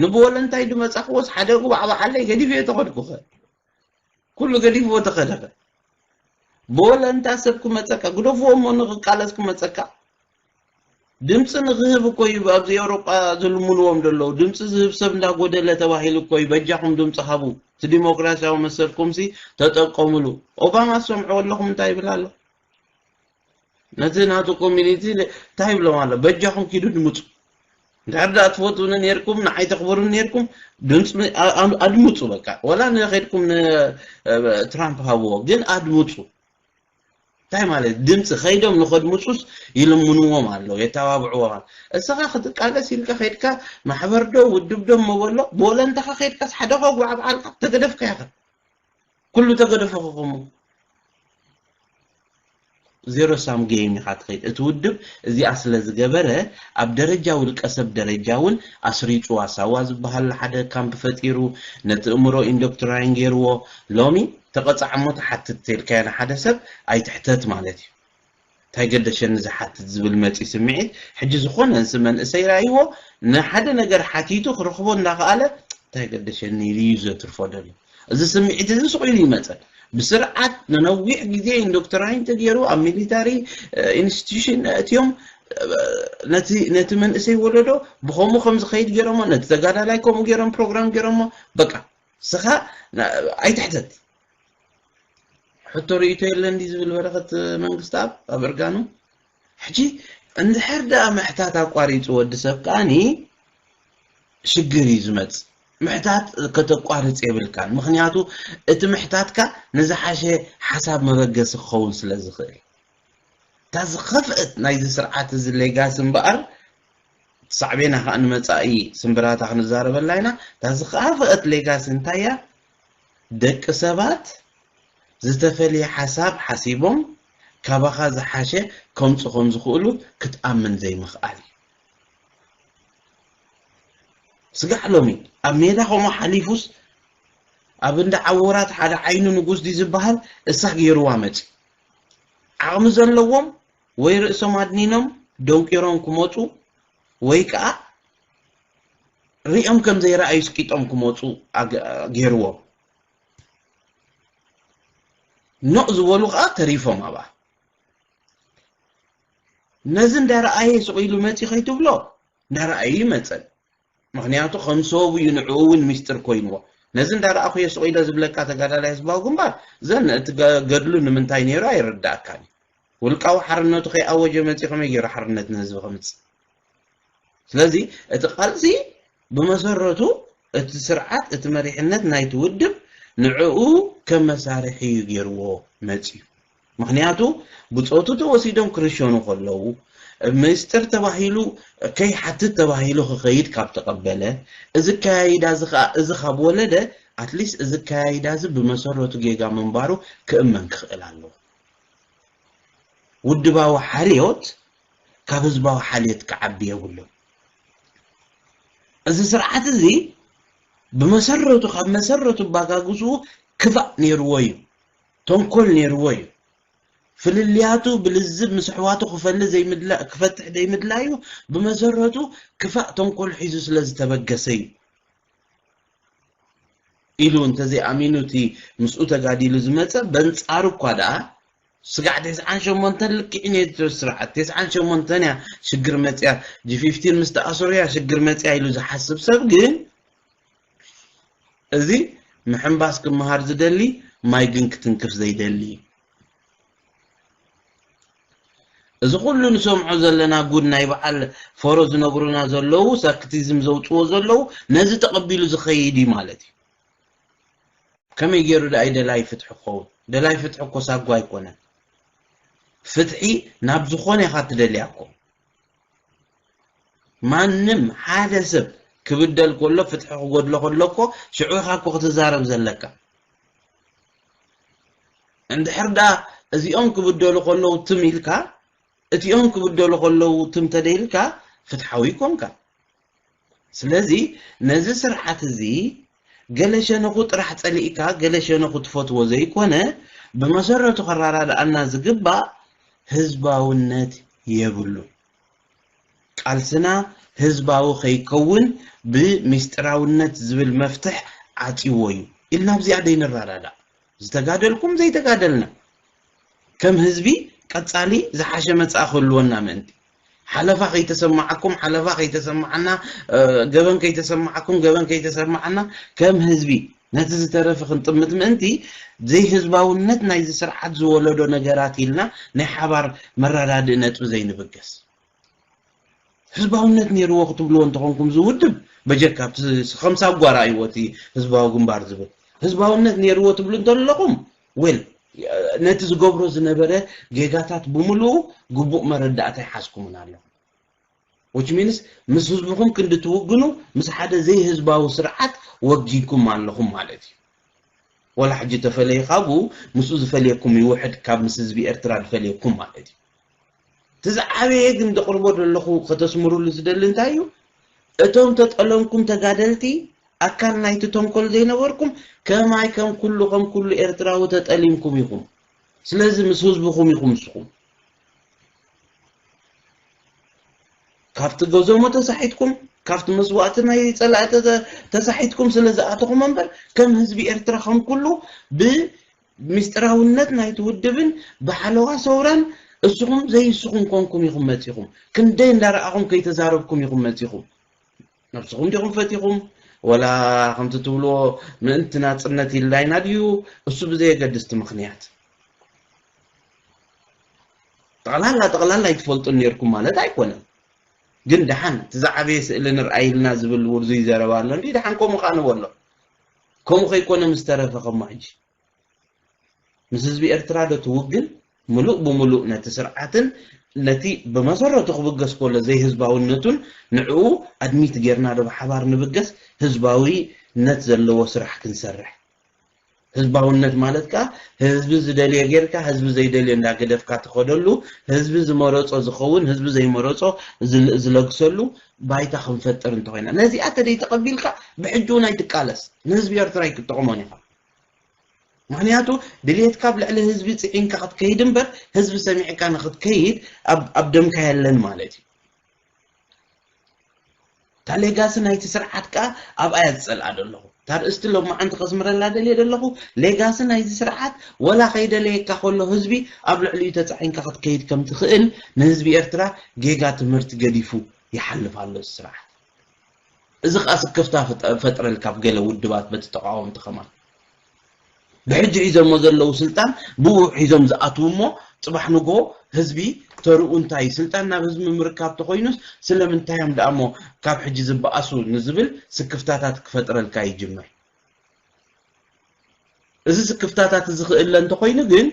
[SPEAKER 2] ንብወለንታይ ድመጻኽዎስ ሓደ ጉባዕባዓለይ ገዲፈዮ ተኸድኩኸ? ኩሉ ገዲፍዎ ተኸደኸ? ብወለንታ ሰብ ክመጸካ ግደፍዎ እሞ ንኽቃለስ ክመጸካ ድምጺ ንኽህብ እኮ እዩ ኣብዚ ኤውሮጳ ዝልምንዎም ዘለዉ ድምጺ ዝህብ ሰብ እንዳጎደለ ተባሂሉ እኮ እዩ በጃኹም ድምጺ ሃቡ እቲ ዲሞክራሲያዊ መሰልኩምሲ ተጠቀሙሉ ኦባማ ዝሰምዕዎ ኣለኹም እንታይ ይብል ኣሎ ነቲ ናቱ ኮሚኒቲ እንታይ ይብሎም ኣሎ በጃኹም ኪዱ ድምፁ እንድሕር ደኣ ትፈትውኒ ነርኩም ንዓይ ተኽብሩኒ ነርኩም ድምፂ ኣድምፁ በቃ ወላ ንኸድኩም ንትራምፕ ሃብዎ ግን ኣድምፁ እንታይ ማለት ድምፂ ከይዶም ንኸድምፁስ ይልምንዎም ኣለዉ የተባብዕዎም ኣሎ እስኻ ክትቃለስ ኢልካ ከድካ ማሕበር ዶ ውድብ ዶ መበሎ ብወለንታኻ ከድካስ ሓደ ከጉዓብዓልካ ተገደፍካ ኢኻ ኩሉ ተገደፎ ክኹሙ ዜሮ ሳም ገይም ኢኻ ትኸይድ እቲ ውድብ እዚኣ ስለ ዝገበረ ኣብ ደረጃ ውልቀ ሰብ ደረጃ እውን ኣስሪጹዋ ሳዋ ዝበሃል ሓደ ካምፕ ፈጢሩ ነቲ እእምሮ ኢንዶክትራይን ገይርዎ ሎሚ ተቐጻዕ እሞ ትሓትት ተልካዮ ንሓደ ሰብ ኣይትሕተት ማለት እዩ ታይ ገደሸኒ ዝሓትት ዝብል መፂ ስምዒት ሕጂ ዝኾነ ንስ መንእሰይ ራይዎ ንሓደ ነገር ሓቲቱ ክረኽቦ እንዳኸኣለ ታይ ገደሸኒ ኢሉ እዩ ዘትርፎ ደልዩ እዚ ስምዒት እዚ ሱቕ ኢሉ ይመፀን ብስርዓት ንነዊሕ ግዜ ኢንዶክትራይን ተገይሩ ኣብ ሚሊታሪ ኢንስቲትዩሽን ኣእትዮም ነቲ ነቲ መንእሰይ ወለዶ ብከምኡ ከም ዝኸይድ ገይሮሞ ነቲ ተጋዳላይ ከምኡ ገይሮም ፕሮግራም ገይሮሞ በቃ ስኻ ኣይትሕተት ሕቶ ርእይቶ የለን ድዩ ዝብል በረኸት መንግስትኣብ ኣብ እርጋኑ ሕጂ እንድሕር ደኣ ምሕታት ኣቋሪጹ ወዲ ሰብ ከኣኒ ሽግር እዩ ዝመጽእ ምሕታት ከተቋርጽ የብልካን ምክንያቱ እቲ ምሕታትካ ንዝሓሸ ሓሳብ መበገሲ ክኸውን ስለ ዝኽእል እታ ዝኸፍአት ናይዚ ስርዓት እዚ ሌጋሲ እምበኣር ሳዕቤና ከዓ ንመፃኢ ስምብራታ ክንዛረበላ ኢና እታ ዝኸፈአት ሌጋሲ እንታይ እያ ደቂ ሰባት ዝተፈልየ ሓሳብ ሓሲቦም ካባኻ ዝሓሸ ከምጹ ከም ዝኽእሉ ክትኣምን ዘይምኽኣል እዩ። ስጋዕ ሎሚ ኣብ ሜዳ ከምኡ ሓሊፉስ ኣብ እንዳ ዓወራት ሓደ ዓይኑ ንጉስ ድዩ ዝበሃል እሳ ገይሩዋ መጺኡ። ዓቕሚ ዘለዎም ወይ ርእሶም ኣድኒኖም ደንቂሮም ክመጹ ወይ ከኣ ሪኦም ከም ዘይረኣዩ ስቂጦም ክመጹ ገይርዎም ኖእ ዝበሉ ከኣ ተሪፎም ኣብኣ ነዚ እንዳረኣየ ስቕ ኢሉ መጺ ከይትብሎ እንዳረኣዩ ይመጸን ምክንያቱ ከም ሰቡ እዩ ንዕኡ እውን ሚስጥር ኮይንዎ ነዚ እንዳረኣኹ እየ ስቕ ኢለ ዝብለካ ተጋዳላይ ህዝባዊ ግንባር ዘን እቲ ገድሉ ንምንታይ ነይሩ ኣይርዳእካን እዩ ውልቃዊ ሓርነቱ ከይኣወጀ መጺ ከመይ ገይሩ ሓርነት ንህዝቢ ከምጽእ ስለዚ እቲ ቃልሲ ብመሰረቱ እቲ ስርዓት እቲ መሪሕነት ናይቲ ውድብ ንዕኡ ከም መሳርሒ እዩ ገይርዎ መፅዩ። ምኽንያቱ ብፆቱ ተወሲዶም ክርሸኑ ከለዉ ምስጢር ተባሂሉ ከይሓትት ተባሂሉ ክኸይድ ካብ ተቐበለ እዚ ኣከያይዳ እዚ ከዓ እዚ ካብ ወለደ ኣትሊስት እዚ ኣከያይዳ እዚ ብመሰረቱ ጌጋ ምንባሩ ክእመን ክኽእል ኣለዎ። ውድባዊ ሓልዮት ካብ ህዝባዊ ሓልዮት ክዓቢ የብሉን። እዚ ስርዓት እዚ ብመሰረቱ ካብ መሰረቱ ኣባጋግስኡ ክፋእ ነይርዎ እዩ። ተንኮል ነይርዎ እዩ። ፍልልያቱ ብልዝብ ምስ ኣሕዋቱ ክፈሊ ዘይምድላ ክፈትሕ ዘይምድላዩ ብመሰረቱ ክፋእ ተንኮል ሒዙ ስለ ዝተበገሰ እዩ። ኢሉ እንተዘይኣሚኑ እቲ ምስኡ ተጋዲሉ ዝመጸ በንጻሩ እኳ ደኣ ስጋዕ ተስዓን ሸሞንተን ልክዕኛ እዩ እቲ ስርዓት ተስዓን ሸሞንተን እያ ሽግር መፅያ ጂፊፍቲን ምስ ተኣሰሩ እያ ሽግር መፅያ ኢሉ ዝሓስብ ሰብ ግን እዚ ምሕንባስ ክመሃር ዝደሊ ማይ ግን ክትንክፍ ዘይደሊ እዩ እዚ ኩሉ ንሰምዖ ዘለና ጉድ ናይ በዓል ፎሮ ዝነግሩና ዘለዉ ሳክቲዝም ዘውፅዎ ዘለዉ ነዚ ተቐቢሉ ዝኸይድ እዩ ማለት እዩ ከመይ ጌሩ ድኣ እዩ ደላይ ፍትሒ ክኸውን? ደላይ ፍትሒ እኮ ሳጓ ኣይኮነን። ፍትሒ ናብ ዝኾነ ኢኻ እትደልያ እኮ። ማንም ሓደ ሰብ ክብደል ከሎ ፍትሒ ክጎድሎ ከሎ እኮ ሽዑ ኢኻ እኮ ክትዛረብ ዘለካ። እንድሕር ድኣ እዚኦም ክብደሉ ከለዉ ትም ኢልካ እቲኦም ክብደሉ ከለዉ ትም ተደይልካ ፍትሓዊ ኣይኮንካን። ስለዚ ነዚ ስርዓት እዚ ገለ ሸነኹ ጥራሕ ጸሊእካ ገለ ሸነኹ ትፈትዎ ዘይኮነ ብመሰረቱ ከራዳድኣና ዝግባእ ህዝባውነት የብሉን። ቃልስና ህዝባዊ ከይከውን ብሚስጢራውነት ዝብል መፍትሕ ዓጽዩዎ እዩ ኢልና ኣብዚኣ ደይንራዳዳእ ዝተጋደልኩም ዘይተጋደልና። ከም ህዝቢ ቀጻሊ ዝሓሸ መጻኢ ክህልወና ምእንቲ፣ ሓለፋ ከይተሰማዓኩም ሓለፋ ከይተሰማዓና፣ ገበን ከይተሰማዓኩም ገበን ከይተሰማዓና፣ ከም ህዝቢ ነቲ ዝተረፈ ክንጥምት ምእንቲ፣ ዘይህዝባውነት ናይዚ ስርዓት ዝወለዶ ነገራት ኢልና ናይ ሓባር መረዳድኢ ነጥቢ ዘይንብገስ። ህዝባውነት ነይርዎ ክትብልዎ እንተኾንኩም እዚ ውድብ በጀካ ኣብቲ ከም ሳጓ ረኣይዎ እቲ ህዝባዊ ግንባር ዝብል ህዝባውነት ነይርዎ ትብሉ እንተለኹም ዌል ነቲ ዝገብሮ ዝነበረ ጌጋታት ብምልኡ ግቡእ መረዳእታ ይሓዝኩምን ኣለኹ which means ምስ ህዝብኹም ክንዲ ትውግኑ ምስ ሓደ ዘይህዝባዊ ስርዓት ወጊንኩም ኣለኹም ማለት እዩ ወላ ሕጂ ተፈለዩ ካብኡ ምስኡ ዝፈልየኩም ይውሕድ ካብ ምስ ህዝቢ ኤርትራ ዝፈልየኩም ማለት እዩ እቲ ዝዓበየ ግን ዘቕርቦ ዘለኹ ከተስምሩሉ ዝደሊ እንታይ እዩ እቶም ተጠለምኩም ተጋደልቲ ኣካል ናይቲ ተንኮል ዘይነበርኩም ከማይ ከም ኩሉ ከም ኩሉ ኤርትራዊ ተጠሊምኩም ኢኹም ስለዚ ምስ ህዝብኹም ኢኹም ንስኹም ካብቲ ገዞሞ ተሳሒትኩም ካብቲ መስዋእቲ ናይ ፀላእቲ ተሳሒትኩም ስለ ዝኣተኹም እምበር ከም ህዝቢ ኤርትራ ከም ኩሉ ብ ምስጢራውነት ናይቲ ውድብን ብሓለዋ ሰውራን እስኹም ዘይስኹም ኮንኩም ኢኹም መጺኹም። ክንደይ እንዳረኣኹም ከይተዛረብኩም ኢኹም መጺኹም። ነብስኹም ዲኹም ፈቲኹም ወላ ከምቲ ትብልዎ ምእንቲ ናጽነት ኢልላይና ድዩ እሱ ብዘየገድስ እቲ ምኽንያት ጠቕላላ ጠቕላላ ኣይትፈልጡን ነርኩም ማለት ኣይኮነን ግን ደሓን እቲ ዝዓበየ ስእሊ ንርኣይልና ዝብል ውርዙይ ዘረባ ኣሎ እንዲ ደሓን ከምኡ ከዓ ንበሎ ከምኡ ከይኮነ ምስ ተረፈ ከሞ ሕጂ ምስ ህዝቢ ኤርትራ ዶ ትውግን ምሉእ ብምሉእ ነቲ ስርዓትን ነቲ ብመሰረቱ ክብገስ ኮሎ ዘይህዝባውነቱን ንዕኡ ኣድሚት ጌርና ዶ ብሓባር ንብገስ ህዝባዊ ነት ዘለዎ ስራሕ ክንሰርሕ ህዝባውነት ማለት ከኣ ህዝቢ ዝደልዮ ጌርካ ህዝቢ ዘይደልዮ እንዳ ገደፍካ ትኸደሉ ህዝቢ ዝመረጾ ዝኸውን ህዝቢ ዘይመረጾ ዝለግሰሉ ባይታ ክንፈጥር እንተኾይና ነዚኣ ተደይተቐቢልካ ብሕጂ እውን ኣይትቃለስ ንህዝቢ ኤርትራ ኣይክትጠቕሞን ኢኻ ምክንያቱ ድሌትካ ኣብ ልዕሊ ህዝቢ ፅዒንካ ክትከይድ እምበር ህዝቢ ሰሚዕካ ንክትከይድ ኣብ ደምካ የለን ማለት እዩ እታ ሌጋሲ ናይቲ ስርዓት ከዓ ኣብኣ እያ ዝፀልኣ ዘለኹ እታ ኣርእስቲ ሎማዓንቲ ከስምረላ ደልየ ደለኹ ሌጋሲ ናይዚ ስርዓት ወላ ከይደለየካ ከሎ ህዝቢ ኣብ ልዕሊኡ ተጻዒንካ ክትከይድ ከም ትኽእል ንህዝቢ ኤርትራ ጌጋ ትምህርቲ ገዲፉ ይሓልፍ ኣሎ እዚ ስርዓት እዚ ከኣ ስክፍታ ፈጥረልካ ኣብ ገለ ውድባት በቲ ተቓወምቲ ከማን ብሕጂ ሒዞሞ ዘለዉ ስልጣን ብኡ ሒዞም ዝኣትዉ እሞ ጽባሕ ንግሆ ህዝቢ ተርኡ እንታይ እዩ ስልጣን ናብ ህዝቢ ምምርካብ ተኾይኑስ ስለምንታይ እዮም ድኣ እሞ ካብ ሕጂ ዝበኣሱ ንዝብል ስክፍታታት ክፈጥረልካ ይጅምር እዚ ስክፍታታት እዚ ክእለ እንተኾይኑ ግን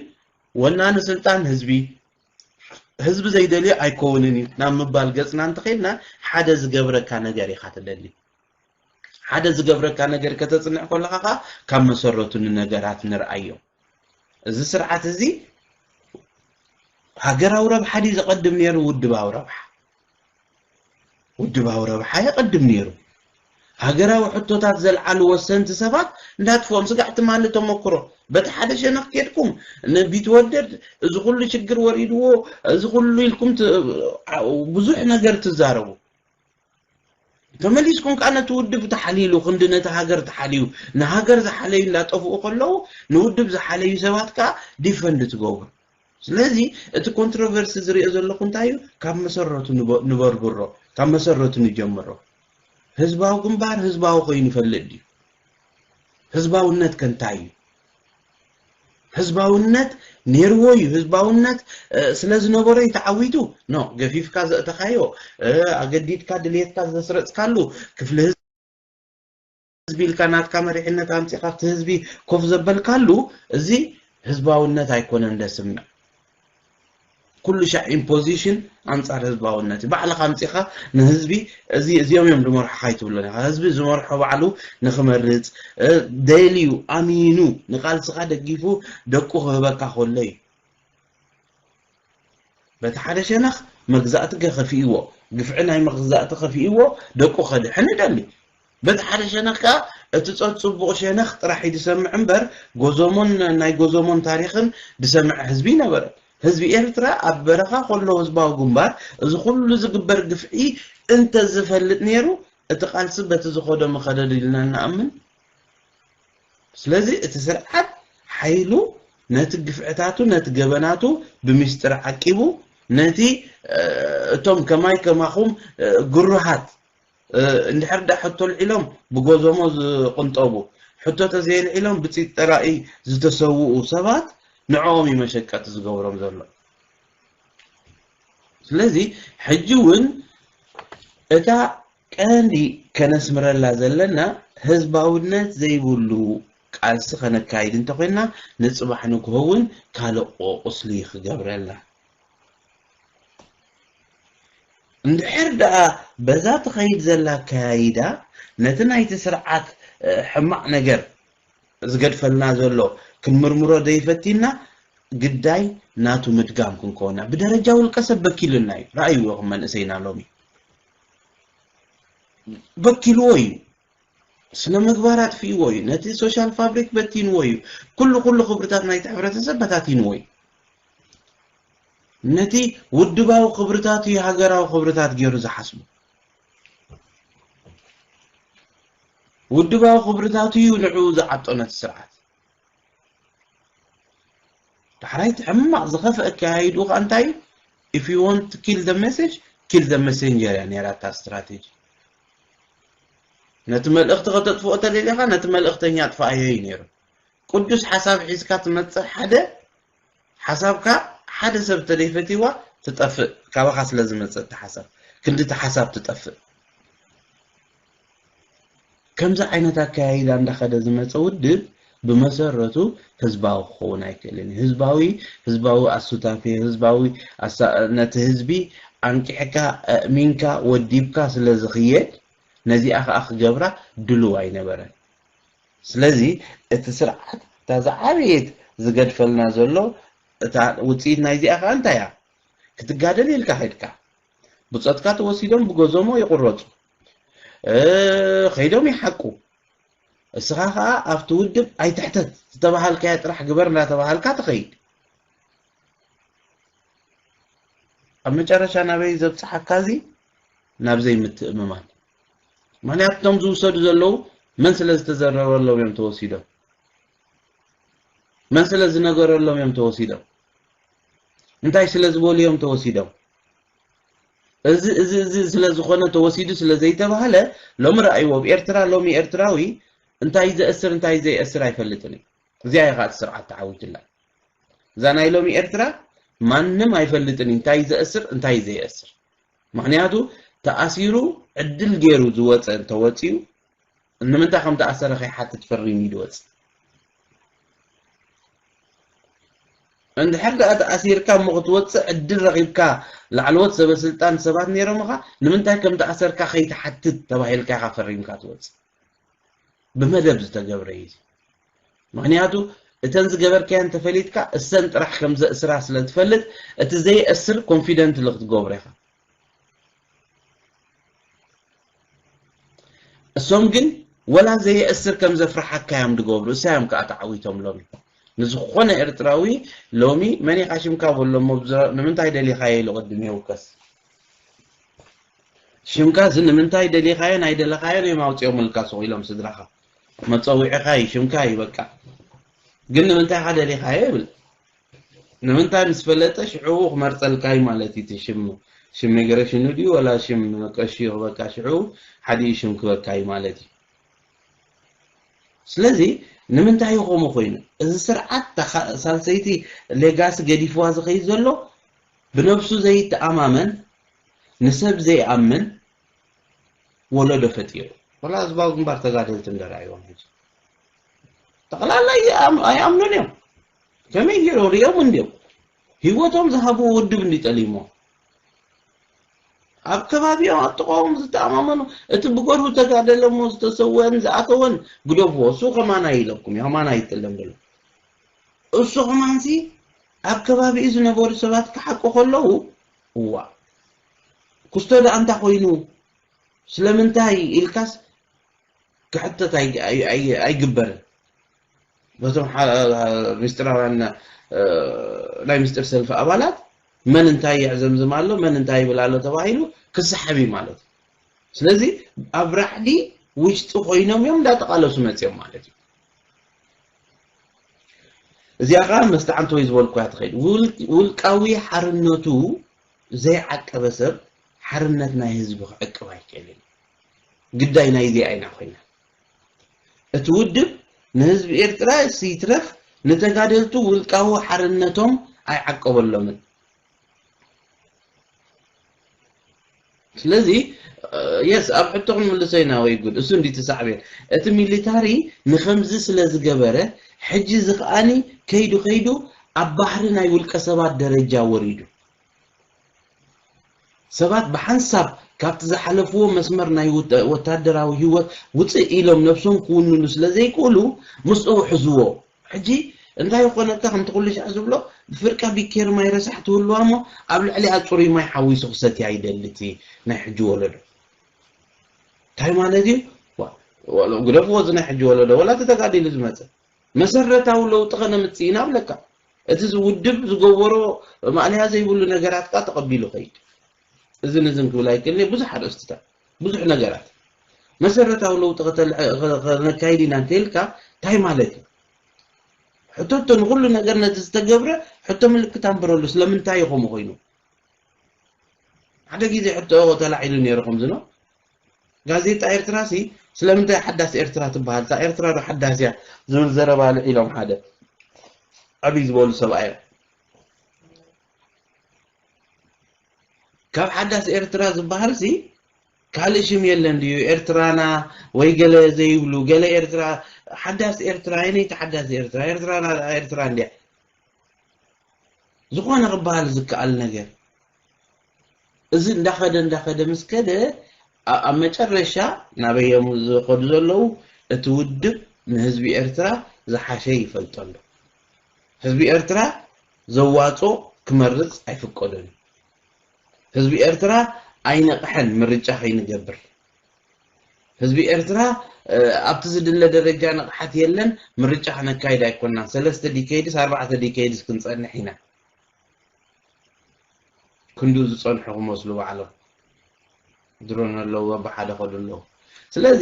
[SPEAKER 2] ወናኒ ስልጣን ህዝቢ ህዝቢ ዘይደልዮ ኣይኮውንን እዩ ናብ ምባል ገጽና እንተኼድና ሓደ ዝገብረካ ነገር ኢኻ ትደሊ ሓደ ዝገብረካ ነገር ከተጽንዕ ከለኻ ከኣ ካብ መሰረቱ ንነገራት ንርኣዮ እዚ ስርዓት እዚ ሃገራዊ ረብሓ ድዩ ዘቐድም ነይሩ ውድባዊ ረብሓ ውድባዊ ረብሓ የቐድም ነይሩ ሃገራዊ ሕቶታት ዘልዓሉ ወሰንቲ ሰባት እንዳጥፍኦም ስጋዕ ትማሊ ተመክሮ በቲ ሓደ ሸነኽ ኬድኩም ንቢትወደድ እዚ ኩሉ ሽግር ወሪድዎ እዚ ኩሉ ኢልኩም ብዙሕ ነገር ትዛረቡ ተመሊስኩም ከኣ ነቲ ውድብ ተሓልይሉ ክንዲ ነቲ ሃገር ተሓልዩ ንሃገር ዝሓለዩ እንዳጠፍኡ ከለዉ ንውድብ ዝሓለዩ ሰባት ከኣ ዲፈንድ ትገብሩ ስለዚ እቲ ኮንትሮቨርሲ ዝሪኦ ዘለኹ እንታይ እዩ ካብ መሰረቱ ንበርብሮ ካብ መሰረቱ ንጀምሮ ህዝባዊ ግንባር ህዝባዊ ኮይኑ ይፈልጥ ድዩ ህዝባውነት ከ እንታይ እዩ ህዝባውነት ኔርዎ እዩ ህዝባውነት ስለ ዝነበሮ እዩ ተዓዊቱ ኖ ገፊፍካ ዘእተኻዮ ኣገዲድካ ድልየትካ ዘስረጽካሉ ክፍሊ ህዝቢ ኢልካ ናትካ መሪሕነት ኣምጺኻ ኣብቲ ህዝቢ ኮፍ ዘበልካሉ እዚ ህዝባውነት ኣይኮነን ደስምዕ ኩሉ ሻዕ ኢምፖዚሽን ኣንጻር ህዝባውነት እዩ። ባዕልኻ ኣምጺኻ ንህዝቢ እዚ እዚኦም እዮም ዝመርሑ ካይትብሎ ኢኻ። ህዝቢ ዝመርሖ ባዕሉ ንክመርጽ ደልዩ ኣሚኑ ንቃልስኻ ደጊፉ ደቁ ክህበካ ከሎ እዩ። በቲ ሓደ ሸነኽ መግዛእቲ ገከፊእዎ ግፍዒ ናይ መግዛእቲ ከፊእዎ ደቁ ከድሕን ይደሊ። በቲ ሓደ ሸነኽ ከኣ እቲ ጸጽቡቑ ሸነኽ ጥራሕ እዩ ዝሰምዕ እምበር ጎዞሞን ናይ ጎዞሞን ታሪኽን ዝሰምዕ ህዝቢ ኣይነበረን። ህዝቢ ኤርትራ ኣብ በረኻ ከሎ ህዝባዊ ግንባር እዚ ኩሉ ዝግበር ግፍዒ እንተዝፈልጥ ነይሩ እቲ ቃልሲ በቲ ዝኸዶ ምኸደድ ኢልና ንኣምን። ስለዚ እቲ ስርዓት ሓይሉ ነቲ ግፍዕታቱ ነቲ ገበናቱ ብሚስጥር ዓቂቡ ነቲ እቶም ከማይ ከማኹም ግሩሃት እንድሕር ድኣ ሕቶ ኣልዒሎም ብጎዞሞ ዝቕንጠቡ፣ ሕቶ ተዘየልዒሎም ብጺት ጠራኢ ዝተሰውኡ ሰባት ንዕኦም እዩ መሸቀጢ ዝገብሮም ዘሎ። ስለዚ ሕጂ እውን እታ ቀንዲ ከነስምረላ ዘለና ህዝባውነት ዘይብሉ ቃልሲ ከነካይድ እንተኾይንና ንጽባሕ ንግሆ እውን ካልእ ቁስሊ ክገብረልና እንድሕር ደኣ በዛ ትኸይድ ዘላ ኣከያይዳ ነቲ ናይቲ ስርዓት ሕማቕ ነገር ዝገድፈልና ዘሎ ክንምርምሮ ዘይፈቲንና ግዳይ ናቱ ምድጋም ክንከውን ኢና። ብደረጃ ውልቀ ሰብ በኪሉና እዩ። ረኣይዎ ኢኹም መንእሰይና ሎሚ በኪልዎ እዩ። ስነ-ምግባር ኣጥፊእዎ እዩ፣ ነቲ ሶሻል ፋብሪክ በቲንዎ እዩ፣ ኩሉ ኩሉ ክብርታት ናይቲ ሕብረተሰብ በታቲንዎ እዩ። ነቲ ውድባዊ ክብርታቱ እዩ ሃገራዊ ክብርታት ገይሩ ዝሓስቡ። ውድባዊ ክብርታቱ እዩ ንዕኡ ዝዓጦ ነቲ ስርዓት። ዳሕራይ እቲ ሕማቕ ዝኸፍአ ኣከያይድኡ ከኣ እንታይ እዩ? If you want to kill the message, kill the messenger እያ ነይራ እታ ስትራቴጂ። ነቲ መልእኽቲ ከተጥፍኦ ተደሊኻ ነቲ መልእኽተኛ ኣጥፍኣዮ እዩ ነይሩ። ቅዱስ ሓሳብ ሒዝካ ትመጽእ ሓደ ሓሳብካ ሓደ ሰብ ተደይፈቲዋ ትጠፍእ ካባካ ስለ ዝመጸ እቲ ሓሳብ ክንዲ እቲ ሓሳብ ትጠፍእ ከምዚ ዓይነት ኣካያይዳ እንዳኸደ ዝመፀ ውድብ ብመሰረቱ ህዝባዊ ክኸውን ኣይክእልን እዩ ህዝባዊ ህዝባዊ ኣሱታፊ ህዝባዊ ነቲ ህዝቢ ኣንቂሕካ እእሚንካ ወዲብካ ስለ ዝኽየድ ነዚኣ ከዓ ክገብራ ድሉው ኣይነበረን ስለዚ እቲ ስርዓት እታ ዝዓበየት ዝገድፈልና ዘሎ እታ ውጽኢት ናይዚኣ ከኣ እንታይ እያ ክትጋደል ኢልካ ከድካ ብጾትካ ተወሲዶም ብጎዞሞ ይቁረጹ ከይዶም ይሓቁ እስኻ ከኣ ኣብቲ ውድብ ኣይትሕተት ዝተባሃልካዮ ጥራሕ ግበር እንዳተባሃልካ ትኸይድ ኣብ መጨረሻ ናበይ ዘብጽሓካ እዚ ናብ ዘይምትእምማን ምክንያቱ እቶም ዝውሰዱ ዘለዉ መን ስለ ዝተዘረበሎም እዮም ተወሲዶም መን ስለ ዝነገረሎም እዮም ተወሲዶም እንታይ ስለ ዝበሉ እዮም ተወሲዶም እዚ እዚ እዚ ስለ ዝኾነ ተወሲዱ ስለ ዘይተባህለ ሎሚ ረኣይዎ ኣብ ኤርትራ ሎሚ ኤርትራዊ እንታይ ዘእስር እንታይ ዘይእስር ኣይፈልጥን እዩ እዚኣ እያ ከዓ እቲ ስርዓት ተዓዊትላ እዛ ናይ ሎሚ ኤርትራ ማንም ኣይፈልጥን እዩ እንታይ ዘእስር እንታይ ዘየእስር ምኽንያቱ ተኣሲሩ ዕድል ጌሩ ዝወጸ እንተወጺኡ ንምንታይ ከም ተኣሰረ ከይሓትት ፈሪሙ እዩ ዝወጽእ እንድሕር ደኣ ተኣሲርካ እሞ ክትወጽእ ዕድል ረኺብካ ላዕለዎት ሰበስልጣን ሰባት ነይሮምኻ ንምንታይ ከም ተኣሰርካ ከይትሓትት ተባሂልካ ኢኻ ፈሪምካ ትወጽእ ብመደብ ዝተገብረ እዩ እዚ ምክንያቱ እተን ዝገበርካያ እንተፈሊጥካ እሰን ጥራሕ ከም ዘእስራ ስለ ትፈልጥ እቲ ዘይእስር ኮንፊደንት ልክትገብሮ ኢኻ እሶም ግን ወላ ዘየእስር ከም ዘፍርሓካ እዮም ዝገብሩ እሳዮም ከዓ ተዓዊቶም ሎሚ ንዝኾነ ኤርትራዊ ሎሚ መን ኢኻ ሽምካ በሎ እሞ ንምንታይ ደሊኻዮ ኢሉ ቅድም የውከስ ሽምካ እዚ ንምንታይ ደሊኻዮን ኣይደለኻዮን እዮም ኣውጺኦምልካ ሱቕ ኢሎም ስድራኻ መጸዊዕኻ እዩ ሽምካ እዩ በቃ ግን ንምንታይ ኢኻ ደሊኻዮ ይብል ንምንታይ ምስ ፈለጠ ሽዑ ክመርጸልካ እዩ ማለት እዩ እቲ ሽም ሽም ሚግሬሽኑ ድዩ ወላ ሽም ቀሺ ይኽበካ ሽዑ ሓዲኡ ሽም ክበካ እዩ ማለት እዩ ስለዚ ንምንታይ እዩ ከምኡ ኮይኑ እዚ ስርዓት ሳልሰይቲ ሌጋሲ ገዲፍዋ ዝኸይድ ዘሎ ብነብሱ ዘይተኣማመን ንሰብ ዘይኣምን ወለዶ ፈጢሩ። ወላ ህዝባዊ ግንባር ተጋደልቲ እንድሕር ርኣይዎም ሕጂ ጠቕላላ ኣይኣምኑን እዮም። ከመይ ገይሮም ሪኦም እንድዮም ሂወቶም ዝሃብዎ ውድብ እንድዩ ጠሊምዎ። ኣብ ከባቢኦም ኣብ ጥቕኦም ዝተኣማመኑ እቲ ብገርሁ ተጋደለ እሞ ዝተሰወአን ዝኣተወን ግደፍዎ እሱ ከማና ኢለኩም እዩ ከማና ይጥለም በሎ እሱ ከማንሲ ኣብ ከባቢኡ ዝነበሩ ሰባት ክሓቁ ከለዉ፣ እዋእ! ኩስቶ ደኣ እንታ ኮይኑ? ስለምንታይ? ኢልካስ ክሕተት ኣይግበርን። በቶም ምስጢራውያን ናይ ምስጢር ሰልፊ ኣባላት መን እንታይ የዕዘምዝም ኣሎ፣ መን እንታይ ይብል ኣሎ ተባሂሉ ክሰሓብ እዩ ማለት እዩ። ስለዚ ኣብ ራዕዲ ውሽጢ ኮይኖም እዮም እንዳተቓለሱ መጺኦም ማለት እዩ። እዚኣ ከኣ መስተዓንተወይ ዝበልኩያ ትኸይድ። ውልቃዊ ሓርነቱ ዘይዓቀበ ሰብ ሓርነት ናይ ህዝቢ ክዕቅብ ኣይክእልን እዩ። ግዳይ ናይዚኣ ኢና ኮይና። እቲ ውድብ ንህዝቢ ኤርትራ ይትረፍ ንተጋደልቱ ውልቃዊ ሓርነቶም ኣይዓቀበሎምን። ስለዚ የስ ኣብ ሕቶ ክንምልሶ ኢና ወይ ጉድ እሱ እንዲ ትሳዕቤን እቲ ሚሊታሪ ንከምዚ ስለ ዝገበረ ሕጂ እዚ ከኣኒ ከይዱ ከይዱ ኣብ ባህሪ ናይ ውልቀ ሰባት ደረጃ ወሪዱ ሰባት ብሓንሳብ ካብቲ ዝሓለፍዎ መስመር ናይ ውተ- ወታደራዊ ህይወት ውፅእ ኢሎም ነብሶም ክውንኑ ስለ ዘይክእሉ ምስኡ ሕዝዎ ሕጂ እንታይ ኮነካ ከምቲ ኩሉሻዕ ዝብሎ ብፍርቃ ቢኬሪ ማይ ረሳሕ ትህልዋ እሞ ኣብ ልዕሊኣ ጽሩይ ማይ ሓዊሱ ክሰትያ ይደሊ እቲ ናይ ሕጂ ወለዶ እንታይ ማለት እዩ ዋእ ግደፍዎ እዚ ናይ ሕጂ ወለዶ ወላ እቲ ተጋዲሉ ዝመጸ መሰረታዊ ለውጢ ከነምጽእ ኢና እብለካ እቲ ውድብ ዝገበሮ ማእለያ ዘይብሉ ነገራት ከኣ ተቐቢሉ ከይድ እዝን እዝን ክብል ኣይክእልን ብዙሕ ኣርእስትታት ብዙሕ ነገራት መሰረታዊ ለውጢ ከነካይድ ኢና እንተይልካ እንታይ ማለት እዩ? ሕቶቶ ንኹሉ ነገር ነቲ ዝተገብረ ሕቶ ምልክት ኣንብረሉ ስለምንታይ እዩ ከምኡ ኮይኑ? ሓደ ግዜ ሕቶ ተላዒሉ ነይሩ ከምዚ ነው ጋዜጣ ኤርትራ ሲ ስለምንታይ ሓዳስ ኤርትራ ትበሃል እታ ኤርትራ ዶ ሓዳስ እያ ዝብል ዘረባ ኣልዒሎም ሓደ ዓብይ ዝበሉ ሰብኣይ እዮም ካብ ሓዳስ ኤርትራ ዝበሃልሲ ካልእ ሽም የለን ድዩ ኤርትራና ወይ ገለ ዘይብሉ ገለ ኤርትራ ሓዳስ ኤርትራ የነይቲ ሓዳስ ኤርትራ ኤርትራና ደኣ ኤርትራ እንድያ ዝኾነ ክበሃል ዝከኣል ነገር እዚ እንዳኸደ እንዳኸደ ምስ ከደ ኣ- ኣብ መጨረሻ ናበይ እዮም ዝኸዱ ዘለዉ እቲ ውድብ ንህዝቢ ኤርትራ ዝሓሸ ይፈልጠሉ ህዝቢ ኤርትራ ዘዋጾ ክመርጽ ኣይፍቀዶን እዩ ህዝቢ ኤርትራ ኣይነቅሐን ምርጫ ከይንገብር ህዝቢ ኤርትራ ኣብቲ ዝድለ ደረጃ ንቕሓት የለን ምርጫ ክነካይድ ኣይኮናን ሰለስተ ዲከይድስ ኣርባዕተ ዲከይድስ ክንጸንሕ ኢና ክንዱ ዝጸንሑ ክመስሉ ባዕሎም ድሮን ኣለዎ ብሓደ ከዱ ኣለዉ ስለዚ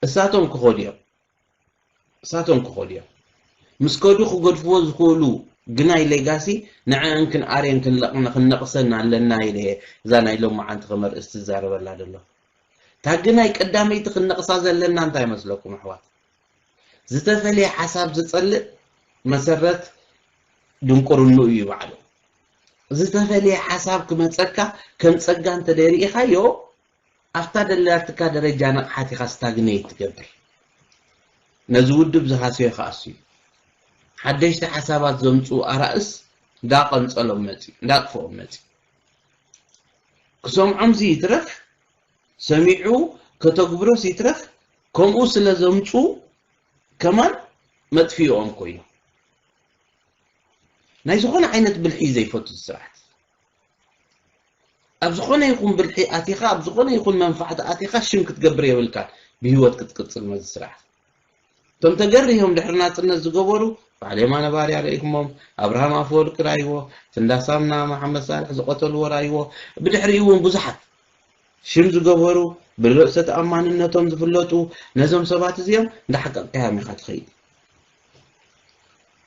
[SPEAKER 2] እሳቶም ክኸዱ እዮም እሳቶም ክኸዱ እዮም። ምስ ከዱ ክገድፍዎ ዝኽእሉ ግናይ ሌጋሲ ንዐኣን ክንኣርየን ክንነቕሰን ኣለና ኢለ እየ እዛ ናይ ሎምዓንቲ ከም ኣርእስቲ ዝዛረበላ ዘለኹ። እታ ግናይ ቀዳመይቲ ክንነቕሳ ዘለና እንታይ ይመስለኩም ኣሕዋት? ዝተፈልየ ሓሳብ ዝጸልእ መሰረት ድንቁርንኡ እዩ ባዕሉ። ዝተፈልየ ሓሳብ ክመጸካ ከም ጸጋ እንተደይ ርኢኻዮ ኣብታ ደላትካ ደረጃ ንቕሓት ኢኻ ስታግነይት ትገብር። ነዚ ውድብ ዝሃሰዮ ክኣሱ እዩ። ሓደሽቲ ሓሳባት ዘምጽኡ ኣራእስ እንዳ ቀንጸሎም መጺኡ፣ እንዳ ኣጥፍኦም መጺኡ። ክሰምዖምሲ ይትረፍ ሰሚዑ ከተግብሮስ ይትረፍ ከምኡ ስለ ዘምጽኡ ከማን መጥፊኢኦም ኮይኑ። ናይ ዝኾነ ዓይነት ብልሒ እዩ ዘይፈቱ እዚ ስርዓት። ኣብ ዝኾነ ይኹን ብልሒ ኣቲኻ ኣብ ዝኾነ ይኹን መንፋዕቲ ኣቲኻ ሽም ክትገብር የብልካን ብሂወት ክትቅጽል መዚ ስርዓት። እቶም ተገሪሆም ድሕሪ ናጽነት ዝገበሩ በዓል የማነ ባርያ ርኢኹሞም፣ ኣብርሃም ኣፈወርቂ ራይዎ፣ ትንዳ ሳምና፣ መሓመድ ሳልሕ ዝቐተልዎ ራይዎ፣ ብድሕሪኡ እውን ብዙሓት ሽም ዝገበሩ ብርእሰ ተኣማንነቶም ዝፍለጡ ነዞም ሰባት እዚኦም እንዳሓቀቅካዮም ኢኻ ትኸይድ።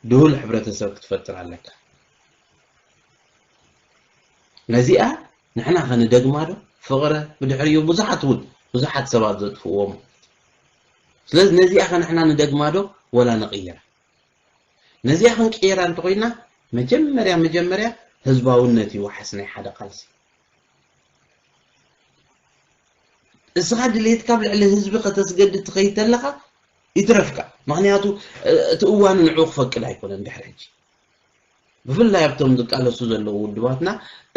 [SPEAKER 2] ድሁል ሕብረተሰብ ክትፈጥር ኣለካ። ነዚኣ ንሕና ከ ንደግማ ዶ ፍቅረ ብድሕሪኡ ብዙሓት ውን ብዙሓት ሰባት ዘጥፍእዎም ስለዚ ነዚኣ ከ ንሕና ንደግማ ዶ ወላ ንቅይራ ነዚኣ ክንቅይራ እንተኮይና መጀመርያ መጀመርያ ህዝባውነት እዩ ዋሕስ ናይ ሓደ ቃልሲ እስኻ ድሌትካ ኣብ ልዕሊ ህዝቢ ከተስገድድ ትኸይድ ተለኻ ይትረፍካ ምክንያቱ እቲ እዋኑ ንዕኡ ክፈቅድ ኣይኮነን ድሕሪ ሕጂ ብፍላይ ኣብቶም ዝቃለሱ ዘለዉ ውድባትና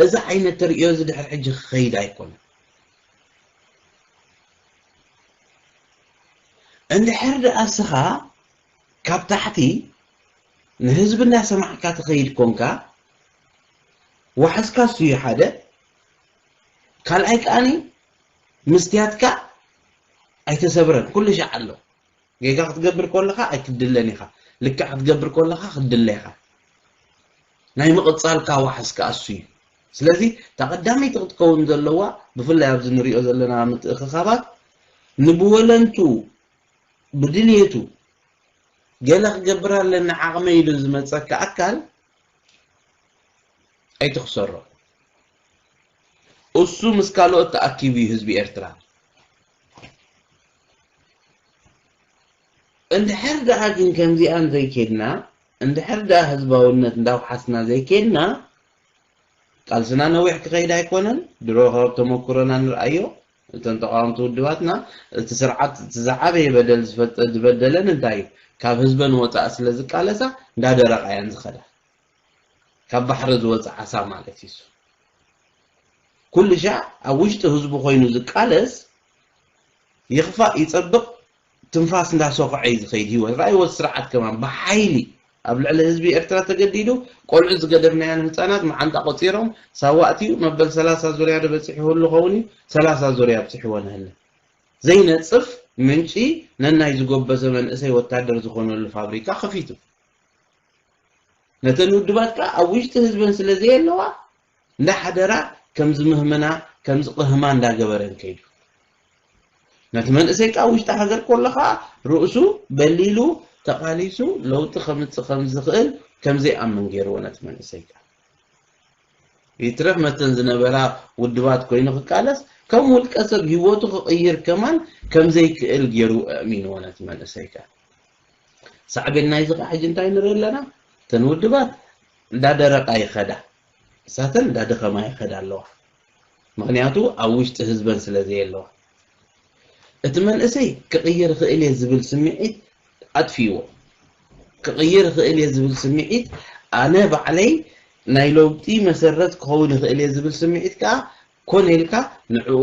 [SPEAKER 2] እዚ ዓይነት ተርእዮ እዚ ድሕሪ ሕጂ ክኸይድ ኣይኮነን። እንድሕር ድኣ እስኻ ካብ ታሕቲ ንህዝቢ እንዳሰማዕካ ትኸይድ ኮንካ ዋሕስካ እሱዩ ሓደ ካልኣይ ከኣ ምስትያትካ ኣይተሰብረን ኩሉ ሻዕ ኣሎ። ጌጋ ክትገብር ኮለኻ ኣይትድለን ኢኻ ልክዕ ክትገብር ኮለኻ ክትድለ ኢኻ ናይ ምቕጻልካ ዋሕስ ከኣ እሱ እዩ ስለዚ እታ ቀዳመይቲ ክትከውን ዘለዋ ብፍላይ ኣብዚ ንሪኦ ዘለና ምትእኽኻባት ንብወለንቱ ብድልየቱ ገለ ክገብር ኣለኒ ዓቕመ ኢሉ ዝመጸካ ኣካል ኣይትኽሰሮ እሱ ምስ ካልኦት ተኣኪቡ እዩ ህዝቢ ኤርትራ እንድሕር ደኣ ግን ከምዚኣን ዘይኬድና፣ እንድሕር ደኣ ህዝባውነት እንዳውሓስና ዘይኬድና፣ ቃልስና ነዊሕ ክኸይድ ኣይኮነን። ድሮ ካብ ተመኩሮና ንርኣዮ። እተን ተቓወምቲ ውድባትና፣ እቲ ስርዓት እቲ ዝዓበየ በደል ዝፈጸ ዝበደለን እንታይ እዩ? ካብ ህዝበን ወጻኢ ስለ ዝቃለሳ እንዳደረቓ እየን ዝኸዳ። ካብ ባሕሪ ዝወጸ ዓሳ ማለት እዩ'ሱ። ኩልሻዕ ኣብ ውሽጢ ህዝቡ ኮይኑ ዝቃለስ ይኽፋእ ይጸብቕ ትንፋስ እንዳ ሶኽዐ እዩ ዝኸይድ ሂወት። ራእይዎ እዚ ስርዓት ከማን ብሓይሊ ኣብ ልዕሊ ህዝቢ ኤርትራ ተገዲዱ ቆልዑት ዝገደፍናዮን ህጻናት መዓንጣ ቆጺሮም ሳዋ ኣትዩ መበል ሰላሳ ዙርያ ዶ በጺሑ ህሉ ኸውን እዩ ሰላሳ ዙርያ ኣብጺሕዎ ነህለ ዘይነጽፍ ምንጪ ነናይ ዝጎበዘ መንእሰይ ወታደር ዝኾነሉ ፋብሪካ ከፊቱ ነተን ውድባት ከኣ ኣብ ውሽጢ ህዝበን ስለ ዘየለዋ እንዳ ሓደራ ከም ዝምህምና ከም ዝቕህማ እንዳ ገበረን ከይዱ ነቲ መንእሰይ ካብ ውሽጢ ሃገር ኮሎ ከኣ ርእሱ በሊሉ ተቓሊሱ ለውጢ ከምጽእ ከም ዝኽእል ከም ዘይኣምን ገይርዎ ነቲ መንእሰይ ከኣ ይትረፍ መተን ዝነበራ ውድባት ኮይኑ ክቃለስ ከም ውልቀ ሰብ ሂወቱ ክቕይር ከማን ከም ዘይክእል ገይሩ ኣእሚንዎ ነቲ መንእሰይ ከኣ ሳዕቤን ናይዚ ከኣ ሕጂ እንታይ ንርኢ ኣለና? እተን ውድባት እንዳደረቓ ይኸዳ፣ ንሳተን እንዳደኸማ ይኸዳ ኣለዋ። ምኽንያቱ ኣብ ውሽጢ ህዝበን ስለ ዘየለዋ። እቲ መንእሰይ ክቕይር እኽእል እየ ዝብል ስምዒት ኣጥፊእዎ። ክቕይር እኽእል እየ ዝብል ስምዒት ኣነ ባዕለይ ናይ ለውጢ መሰረት ክኸውን እኽእል እየ ዝብል ስምዒት ከኣ ኮነ ኢልካ ንዕኡ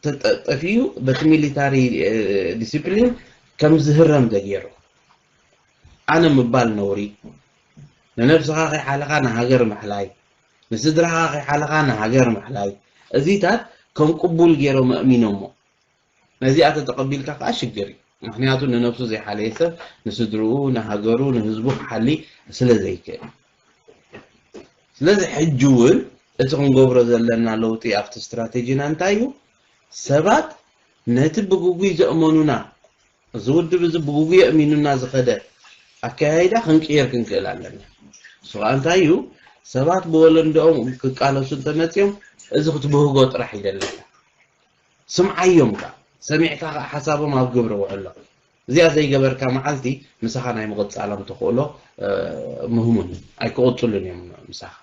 [SPEAKER 2] ተጠፊኡ በቲ ሚሊታሪ ዲሲፕሊን ከምዝህረም ተገይሩ ኣነ ምባል ነውሪ ንነብስኻ ከይሓለኻ ንሃገር ምሕላይ ንስድራኻ ከይሓለኻ ንሃገር ምሕላይ እዚታት ከም ቅቡል ገይሮም ኣእሚኖሞ ነዚኣ ተተቐቢልካ ከኣ ሽግር እዩ ምኽንያቱ ንነብሱ ዘይሓለየ ሰብ ንስድርኡ ንሃገሩ ንህዝቡ ክሓሊ ስለ ዘይክእል ስለዚ ሕጂ እውን እቲ ክንገብሮ ዘለና ለውጢ ኣብቲ ስትራቴጂና እንታይ እዩ ሰባት ነቲ ብግጉይ ዘእመኑና እዚ ውድብ እዚ ብግጉይ ኣእሚኑና ዝኸደ ኣከያይዳ ክንቅይር ክንክእል ኣለና እሱ ከኣ እንታይ እዩ ሰባት ብወለንደኦም ክቃለሱ እንተመፅኦም እዚ ክትብህጎ ጥራሕ ይደለካ ስምዓዮም ከኣ ሰሚዕካ ከኣ ሓሳቦም ኣብ ግብሪ ውዕሎ። እዚኣ ዘይገበርካ መዓልቲ ምሳኻ ናይ ምቕጻሎም ተኽእሎ ምህሙን እዩ። ኣይክቕጽሉን እዮም ምሳኻ።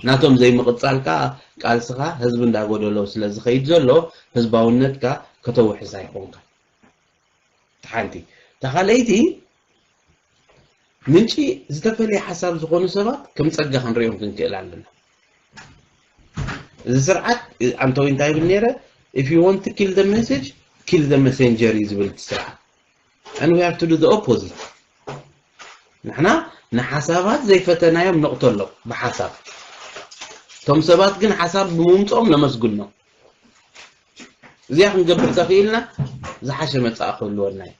[SPEAKER 2] ናቶም ዘይምቕጻል ከኣ ቃልስኻ ህዝቢ እንዳጎደሎ ስለዝኸይድ ዘሎ ህዝባውነትካ ከተውሕስ ኣይኮንካን። እታ ሓንቲ። እታ ካልኣይቲ፣ ምንጪ ዝተፈልየ ሓሳብ ዝኾኑ ሰባት ከም ጸጋ ክንርእዮም ክንክእል ኣለና። እዚ ስርዓት ኣንቶይ እንታይ ይብል ነይረ? If you want to kill the message, kill the messenger እዩ ዝብል እቲ ስርዓት። And we have to do the opposite. ንሕና ንሓሳባት ዘይፈተናዮም ነቕተሎም ብሓሳብ እቶም ሰባት ግን ሓሳብ ብምምፅኦም ነመስግኖም እዚኣ ክንገብር ተኽኢልና ዝሓሸ መጻኢ ክህልወና እዩ።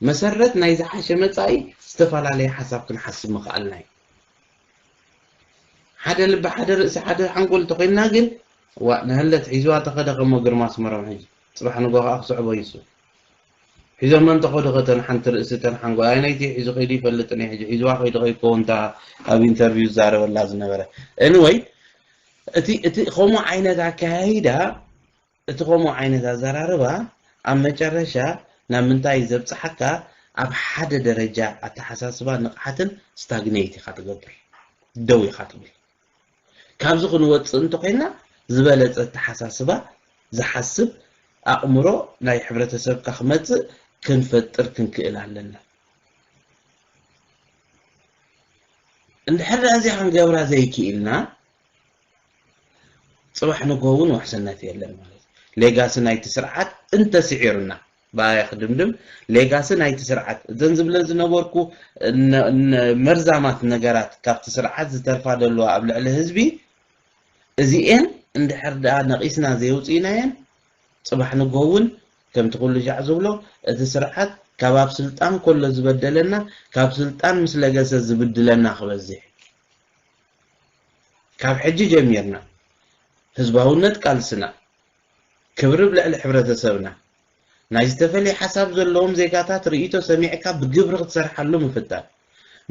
[SPEAKER 2] መሰረት ናይ ዝሓሸ መጻኢ ዝተፈላለየ ሓሳብ ክንሓስብ ምኽኣልና እዩ። ሓደ ልቢ ሓደ ርእሲ ሓደ ሓንጎል እንተኾይንና ግን ዋእ ንሀለት ሒዝዋ ተኸደ ከሞ ግርማ ኣስመሮም ሕጂ ጽባሕ ንጎ ከዓ ክስዕቦ ይሱ ሒዞ መን ተኸዱ ከተን ሓንቲ ርእሲ ተን ሓንጎል ኣይነይቲ ሒዙ ከይዱ ይፈልጥን እዩ ሕጂ ሒዝዋ ከይዱ ከይከውን እታ ኣብ ኢንተርቪው ዝዛረበላ ዝነበረ ኤኒወይ እቲ እቲ ከምኡ ዓይነት ኣከያይዳ፣ እቲ ከምኡ ዓይነት ኣዘራርባ ኣብ መጨረሻ ናብ ምንታይ እዩ ዘብጽሓካ፣ ኣብ ሓደ ደረጃ ኣተሓሳስባን ንቕሓትን ስታግነይት ኢኻ ትገብር፣ ደው ኢኻ ትብል። ካብዚ ክንወጽእ እንተኾይንና ዝበለጸ ኣተሓሳስባ ዝሓስብ ኣእምሮ ናይ ሕብረተሰብካ ክመጽእ ክንፈጥር ክንክእል ኣለና። እንድሕር ደኣ እዚኣ ክንገብራ ዘይክኢልና ጽባሕ ንግሆ እውን ውሕስነት የለን ማለት እዩ። ሌጋሲ ናይቲ ስርዓት እንተስዒሩና ብኣያ ክድምድም ሌጋሲ ናይቲ ስርዓት እዘን ዝብለን ዝነበርኩ መርዛማት ነገራት ካብቲ ስርዓት ዝተርፋ ዘለዋ ኣብ ልዕሊ ህዝቢ እዚኤን እንድሕር ደኣ ነቒስና ዘየውጽኢናየን ጽባሕ ንግሆ እውን ከምቲ ኩሉሻዕ ዝብሎ እቲ ስርዓት ካብ ኣብ ስልጣን ኮሎ ዝበደለና ካብ ስልጣን ምስ ለገሰ ዝብድለና ክበዚሕ ካብ ሕጂ ጀሚርና ህዝባውነት ቃልስና ክብሪ ብ ልዕሊ ሕብረተሰብና ናይ ዝተፈልየ ሓሳብ ዘለዎም ዜጋታት ርእይቶ ሰሚዕካ ብግብሪ ክትሰርሓሉ ምፍታን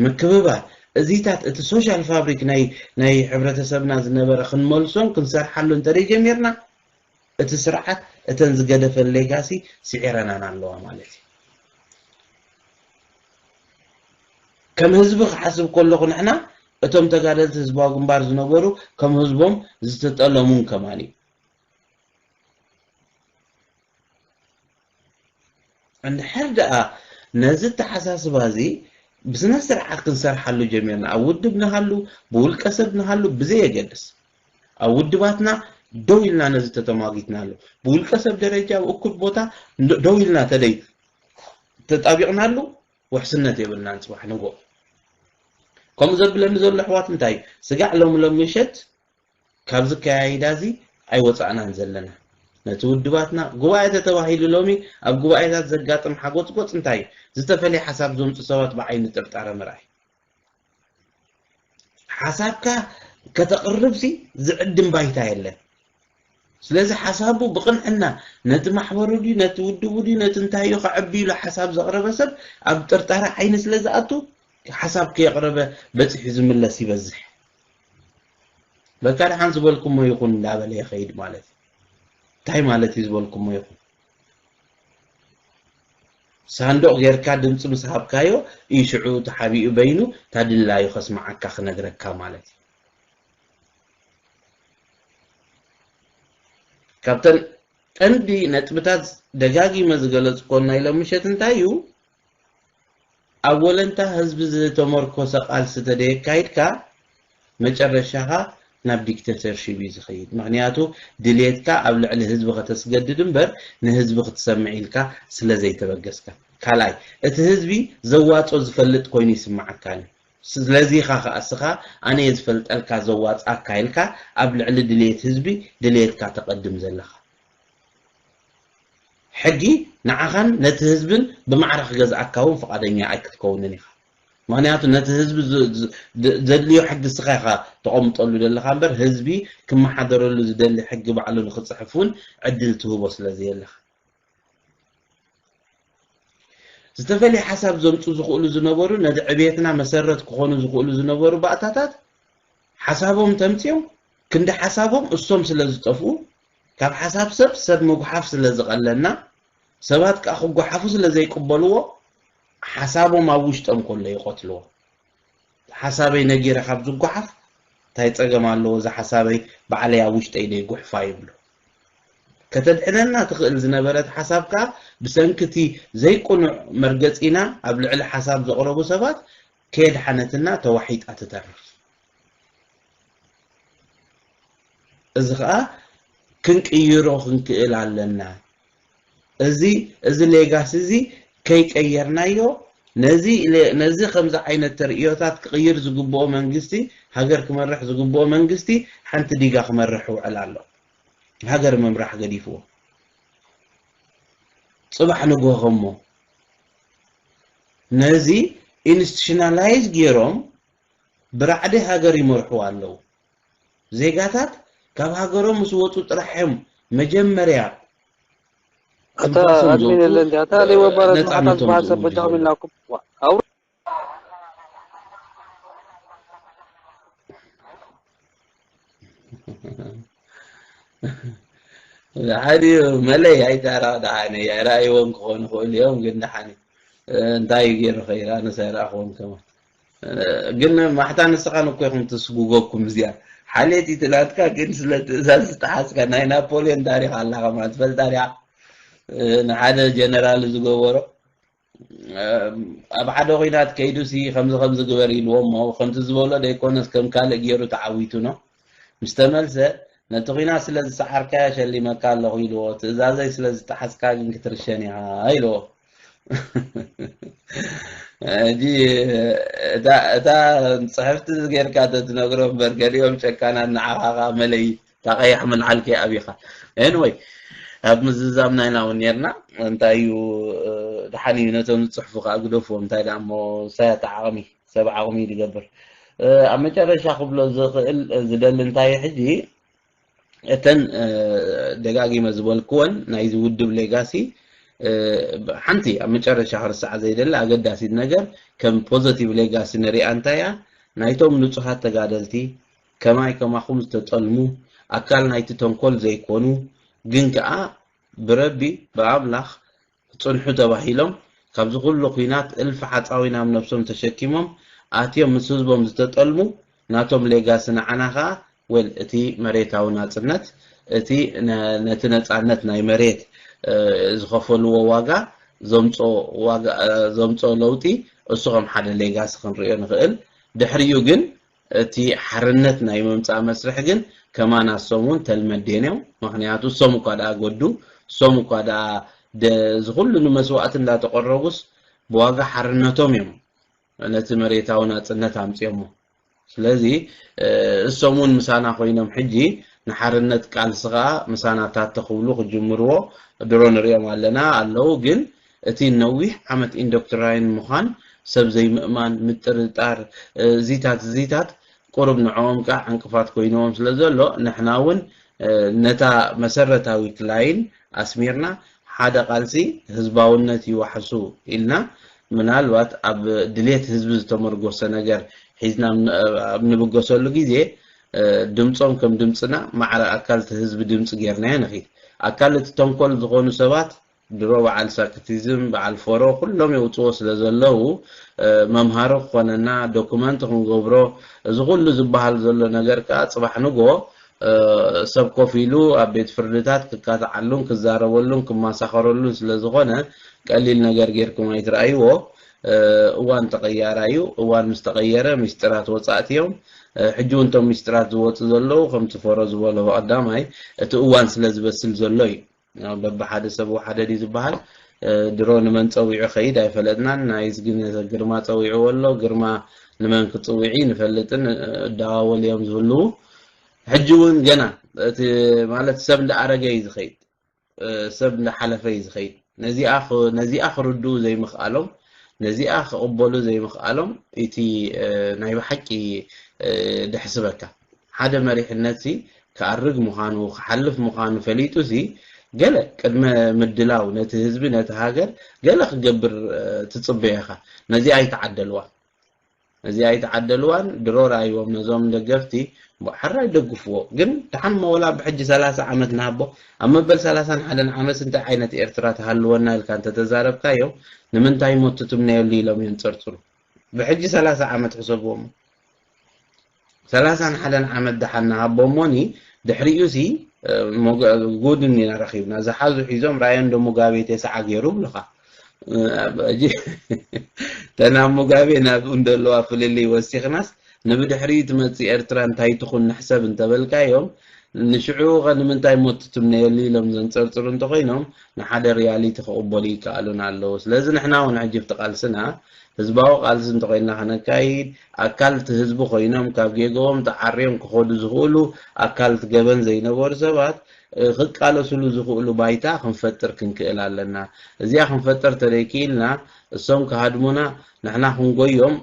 [SPEAKER 2] ምክብባር እዚታት እቲ ሶሻል ፋብሪክ ናይ ናይ ሕብረተሰብና ዝነበረ ክንመልሶን ክንሰርሓሉ እንተደይ ጀሚርና እቲ ስርዓት እተን ዝገደፈን ሌጋሲ ስዒረናን ኣለዋ ማለት እዩ። ከም ህዝቢ ክሓስብ ከለኹ ንሕና እቶም ተጋደልቲ ህዝባዊ ግንባር ዝነበሩ ከም ህዝቦም ዝተጠለሙን ከማን እዩ። እንድሕር ደኣ ነዚ ኣተሓሳስባ እዚ ብስነ ስርዓት ክንሰርሓሉ ጀሚርና፣ ኣብ ውድብ ንሃሉ ብውልቀ ሰብ ንሃሉ ብዘየገድስ፣ ኣብ ውድባትና ደው ኢልና ነዚ ተተሟጊትናሉ፣ ብውልቀ ሰብ ደረጃ ኣብ እኩብ ቦታ ደው ኢልና ተደይ ተጣቢቕናሉ ውሕስነት የብልናን ጽባሕ ንግሆ። ከምኡ ዘብለኒ ዘሎ ኣሕዋት እንታይ እዩ፣ ስጋዕ ሎሚ ሎሚ ምሸት ካብዚ ኣከያይዳ እዚ ኣይወጻእናን ዘለና። ነቲ ውድባትና ጉባኤ ተተባሂሉ ሎሚ ኣብ ጉባኤታት ዘጋጥም ሓጎጽጎጽ እንታይ እዩ? ዝተፈልየ ሓሳብ ዘምጹ ሰባት ብዓይኒ ጥርጣረ ምርኣይ። ሓሳብካ ከተቕርብሲ ዝዕድም ባይታ የለን። ስለዚ ሓሳቡ ብቕንዕና ነቲ ማሕበሩ ድዩ ነቲ ውድቡ ድዩ ነቲ እንታይ እዩ ከዕቢ ኢሉ ሓሳብ ዘቕረበ ሰብ ኣብ ጥርጣረ ዓይኒ ስለ ዝኣቱ ሓሳብ ከየቕረበ በጺሑ ዝምለስ ይበዝሕ። በቃ ድሓን ዝበልኩሞ ይኹን እንዳበለ ይኸይድ ማለት እዩ። እንታይ ማለት እዩ ዝበልኩሞ ይኹን? ሳንዱቕ ጌርካ ድምፂ ምስ ሃብካዮ እዩ ሽዑ ተሓቢኡ በይኑ እታ ድላዩ ከስምዓካ ክነግረካ ማለት እዩ። ካብተን ቀንዲ ነጥብታት ደጋጊመ ዝገለፅኮን ናይ ሎሚ ምሸት እንታይ እዩ? ኣብ ወለንታ ህዝቢ ዝተመርኮሰ ቃልሲ ተደየካይድካ መጨረሻኻ ናብ ዲክተተርሺብ እዩ ዝኸይድ ምኽንያቱ ድልየትካ ኣብ ልዕሊ ህዝቢ ከተስገድድ እምበር ንህዝቢ ክትሰምዕ ኢልካ ስለዘይተበገስካ ካልኣይ እቲ ህዝቢ ዘዋጾ ዝፈልጥ ኮይኑ ይስምዓካ እዩ ስለዚኻ ከኣ እስኻ ኣነየ ዝፈልጠልካ ዘዋጽኣካ ኢልካ ኣብ ልዕሊ ድልየት ህዝቢ ድልየትካ ተቐድም ዘለኻ ሕጊ ንዓኻን ነቲ ህዝብን ብማዕረ ክገዝኣካ እውን ፍቓደኛ ኣይክትከውንን ኢኻ። ምኽንያቱ ነቲ ህዝቢ ዘድልዮ ሕጊ እስኻ ኢኻ ተቐምጠሉ ዘለኻ እምበር ህዝቢ ክመሓደረሉ ዝደሊ ሕጊ ባዕሉ ንክፅሕፍ እውን ዕድል ትህቦ ስለዘየለኻ። ዝተፈልየ ሓሳብ ዘምፁ ዝኽእሉ ዝነበሩ ነዚ ዕብየትና መሰረት ክኾኑ ዝኽእሉ ዝነበሩ ባእታታት ሓሳቦም ተምፂኦም ክንዲ ሓሳቦም እሶም ስለዝጠፍኡ ካብ ሓሳብ ሰብ ሰብ ምጉሓፍ ስለ ዝቐለና ሰባት ከኣ ክጎሓፉ ስለ ዘይቅበልዎ ሓሳቦም ኣብ ውሽጦም ከሎ ይቐትልዎ። ሓሳበይ ነጊረ ካብ ዝጎሓፍ እንታይ ጸገም ኣለዎ እዛ ሓሳበይ ባዕለይ ኣብ ውሽጠይ ደይጉሕፋ ይብሉ። ከተድሕነና ትኽእል ዝነበረት ሓሳብ ከኣ ብሰንኪ እቲ ዘይቅኑዕ መርገጺና ኣብ ልዕሊ ሓሳብ ዘቕረቡ ሰባት ከየድሓነትና ተዋሒጣ ትተርፍ። እዚ ከኣ ክንቅይሮ ክንክእል ኣለና። እዚ እዚ ሌጋሲ እዚ ከይቀየርናዮ ነዚ ነዚ ከምዚ ዓይነት ተርእዮታት ክቕይር ዝግብኦ መንግስቲ ሃገር ክመርሕ ዝግብኦ መንግስቲ ሓንቲ ዲጋ ክመርሕ ይውዕል ኣሎ። ሃገር ምምራሕ ገዲፍዎ ጽባሕ ንግሆ ከሞ ነዚ ኢንስቲሽናላይዝ ጌሮም ብራዕዲ ሃገር ይመርሑ ኣለው። ዜጋታት ካብ ሃገሮም ምስ ወጹ ጥራሕ እዮም መጀመርያ ካብ ኣታ
[SPEAKER 3] ጓሶም ኣድሚን ዝወጹ የለን ድያ ኣታ ለይወ ባረት መሓታ ነጻነቶም ዝበሃል ሰብ ዝእውጁ በጃኹም ዘለዉ። ኢልናኩም
[SPEAKER 2] ዋእ ኣውርድ ደሓን እዩ መለይ ኣይተራቕ ደሓን እዩ ኣይረኣይዎን ክኾኑ ይኽእሉ እዮም ግን ደሓን እዩ እንታይ ገይሩ ኸይራ ኣነስ ኣይረኣኽዎን ከማን ግን ማሕታ ንስኻ ንኮ ኢኹም ትስጉገኩም እዚኣ ሓልየት ኢቲ ናትካ ግን ስለ ትእዛዝ ዝተሓዝካ ናይ ናፖልዮን ታሪኽ ኣላ ከማ ትፈልጣ ዲኻ ንሓደ ጀነራል ዝገበሮ ኣብ ሓደ ኩናት ከይዱሲ ከምዚ ከምዚ ግበር ኢልዎሞ ከምቲ ዝበሎ ደይኮነስ ከም ካልእ ገይሩ ተዓዊቱ ነው ምስ ተመልሰ፣ ነቲ ኲናት ስለ ዝሰዓርካዮ ሸሊመካ ኣለኹ ኢልዎ፣ ትእዛዘይ ስለ ዝጠሓስካ ግን ክትርሸን ኢኻ ኢልዎ። ሕጂ እታ ጽሕፍቲ ጌርካ ተትነግሮ እምበር ገሊኦም ጨካናት ንዓኻ ከኣ መለይ እታ ቀያሕ ምልዓል ከይኣብኻ ኤንወይ ኣብ ምዝዛምና ኢና እውን ነርና እንታይ እዩ ደሓን እዩ ነቶም ዝጽሕፉ ከኣ ግደፍዎም እንታይ ደኣ እሞ ሳያታ ዓቕሚ ሰብ ዓቕሙ ይገብር ኣብ መጨረሻ ክብሎ ዝኽእል ዝደሊ እንታይ ሕጂ እተን ደጋጊመ ዝበልክወን ናይዚ ውድብ ሌጋሲ ሓንቲ ኣብ መጨረሻ ክርሳዓ ዘይደሊ ኣገዳሲት ነገር ከም ፖዘቲቭ ሌጋሲ ንሪኣ እንታይ እያ ናይቶም ንጹሃት ተጋደልቲ ከማይ ከማኹም ዝተጠልሙ ኣካል ናይቲ ተንኮል ዘይኮኑ ግን ከኣ ብረቢ ብኣምላኽ ጽንሑ ተባሂሎም ካብዚ ኩሉ ኩናት እልፊ ሓጻዊን ኣብ ነብሶም ተሸኪሞም ኣትዮም ምስ ህዝቦም ዝተጠልሙ ናቶም ሌጋሲ ንዓና ከኣ ዌል እቲ መሬታዊ ናጽነት እቲ ነቲ ነጻነት ናይ መሬት ዝኸፈልዎ ዋጋ ዘምጾ ዋጋ ዘምጾ ለውጢ እሱ ከም ሓደ ሌጋሲ ክንርእዮ ንኽእል ድሕሪኡ ግን እቲ ሓርነት ናይ ምምጻእ መስርሕ ግን ከማና እሶም ውን ተልመዴን እዮም መክንያቱ እሶም እኳ ደኣ ጎዱ እሶም እኳ ደኣ ደ እዚ ኩሉ ንመስዋእቲ እንዳተቆረቡስ ብዋጋ ሓርነቶም እዮም ነቲ መሬታዊ ናጽነት ኣምጽዮሞ ስለዚ እሶም ውን ምሳና ኮይኖም ሕጂ ንሓርነት ቃልሲ ከኣ ምሳና ታተ ክብሉ ክጅምርዎ ድሮ ንሪኦም ኣለና ኣለው ግን እቲ ንነዊሕ ዓመት ኢንዶክትራይን ምዃን፣ ሰብ ዘይምእማን፣ ምጥርጣር፣ እዚታት እዚታት ቁሩብ ንዕኦም ከኣ ዕንቅፋት ኮይንዎም ስለ ዘሎ፣ ንሕና ውን ነታ መሰረታዊት ላይን ኣስሚርና ሓደ ቃልሲ ህዝባውነት ይዋሕሱ ኢልና ምናልባት ኣብ ድሌት ህዝቢ ዝተመርጎሰ ነገር ሒዝና ኣብ ንብገሰሉ ግዜ ድምጾም ከም ድምጽና ማዕረ ኣካል'ቲ ህዝቢ ድምጺ ጌርናዮ ንኺድ። ኣካል እቲ ተንኮል ዝኾኑ ሰባት ድሮ በዓል ሳክቲዝም በዓል ፎሮ ኩሎም የውጽዎ ስለ ዘለዉ መምሃሪ ክኾነና ዶኩመንት ክንገብሮ እዚ ኩሉ ዝበሃል ዘሎ ነገር ከኣ ጽባሕ ንግሆ ሰብ ኮፍ ኢሉ ኣብ ቤት ፍርድታት ክካትዓሉን ክዛረበሉን ክማሳኸረሉን ስለ ዝኾነ ቀሊል ነገር ጌርኩም ኣይትርኣይዎ እዋን ተቐያራይ እዩ እዋን ምስ ተቐየረ ሚስጢራት ወጻእቲ እዮም ሕጂ እውን እቶም ሚስጢራት ዝወጹ ዘለዉ ከምቲ ፎሮ ዝበሎ ብቐዳማይ እቲ እዋን ስለ ዝበስል ዘሎ እዩ በብሓደ ሰብ ወሓደ ድዩ ዝበሃል ድሮ ንመን ጸዊዑ ከይድ ኣይፈለጥናን ናይዝ ግን ግርማ ጸዊዕዎ ኣሎ ግርማ ንመን ክጽውዒ ንፈልጥን እዳዋወል እዮም ዝህልዉ ሕጂ እውን ገና እቲ ማለት ሰብ እንዳኣረገ እዩ ዝኸይድ ሰብ እንዳሓለፈ እዩ ዝኸይድ ነዚኣ ክርድኡ ዘይምኽኣሎም ነዚኣ ክቕበሉ ዘይምኽኣሎም እቲ ናይ ብሓቂ ደሕስበካ ሓደ መሪሕነትሲ ክኣርግ ምዃኑ ክሓልፍ ምዃኑ ፈሊጡሲ ገለ ቅድመ ምድላው ነቲ ህዝቢ ነቲ ሃገር ገለ ክገብር ትጽበዮ ኢኻ ነዚኣ ኣይተዓደልዋን ነዚኣ ኣይተዓደልዋን ድሮ ርኣይዎም ነዞም ደገፍቲ እሞ ሓራይ ደግፍዎ ግን ደሓን እሞ ወላ ብሕጂ ሰላሳ ዓመት ንሃቦ ኣብ መበል ሰላሳን ሓደን ዓመትሲ እንታይ ዓይነት ኤርትራ ትሃልወና ኢልካ እንተተዛረብካዮም ንምንታይ እሞ እትትምነየሉ ኢሎም የንጸርጽሩ ብሕጂ ሰላሳ ዓመት ሕሰብዎ እሞ ሰላሳን ሓደን ዓመት ደሓን ንሃቦ እሞኒ ድሕሪኡሲ ጉድ እኒና ረኺብና ዝሓዙ ሒዞም ራእዮ እንዶ ሙጋቤ ተስዓ ገይሩ እብሉኻ ሕጂ ተናብ ሙጋቤ ናብ እንደለዋ ፍልልይ ወሲኽናስ ንብድሕሪኡ ትመፅእ ኤርትራ እንታይ ትኹን ንሕሰብ እንተበልካዮም ንሽዑ ኸ ንምንታይ ሞት ትትምነየሉ ኢሎም ዘንፀርፅሩ እንተኾይኖም ንሓደ ሪያሊቲ ክቕበሉ ይከኣሉን ኣለዉ ስለዚ ንሕና እውን ሕጂ ብቲ ቃልስና ህዝባዊ ቃልሲ እንተኾይንና ከነካይድ፣ ኣካል እቲ ህዝቢ ኮይኖም ካብ ጌግኦም ተዓርዮም ክኸዱ ዝኽእሉ፣ ኣካል እቲ ገበን ዘይነበሩ ሰባት ክቃለስሉ ዝኽእሉ ባይታ ክንፈጥር ክንክእል ኣለና። እዚኣ ክንፈጥር እንተዘይክኢልና እሶም ክሃድሙና ንሕና ክንጎዮም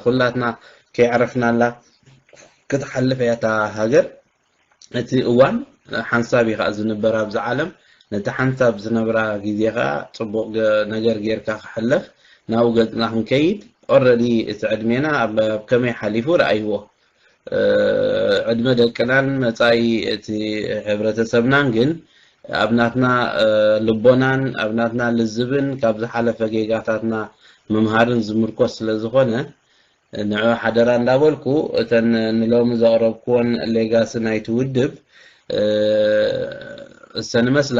[SPEAKER 2] ኩላትና ከየዕረፍናላ ክትሓልፍ እያ እታ ሃገር። እቲ እዋን ሓንሳብ እዩ ከኣ ዝንበር ኣብዚ ዓለም፣ ነቲ ሓንሳብ ዝነብራ ግዜ ከኣ ጽቡቕ ነገር ጌርካ ክሕለፍ ናብኡ ገጽና ክንከይድ ኦረዲ እቲ ዕድሜና ኣብ ከመይ ሓሊፉ ርኣይዎ። ዕድመ ደቅናን መጻኢ እቲ ሕብረተሰብናን ግን ኣብ ናትና ልቦናን ኣብ ናትና ልዝብን ካብ ዝሓለፈ ጌጋታትና ምምሃርን ዝምርኮስ ስለ ዝኾነ ንዑ ሓደራ እንዳበልኩ እተን ንሎሚ ዘቕረብኩወን ሌጋሲ ናይቲ ውድብ እሰን እመስላ።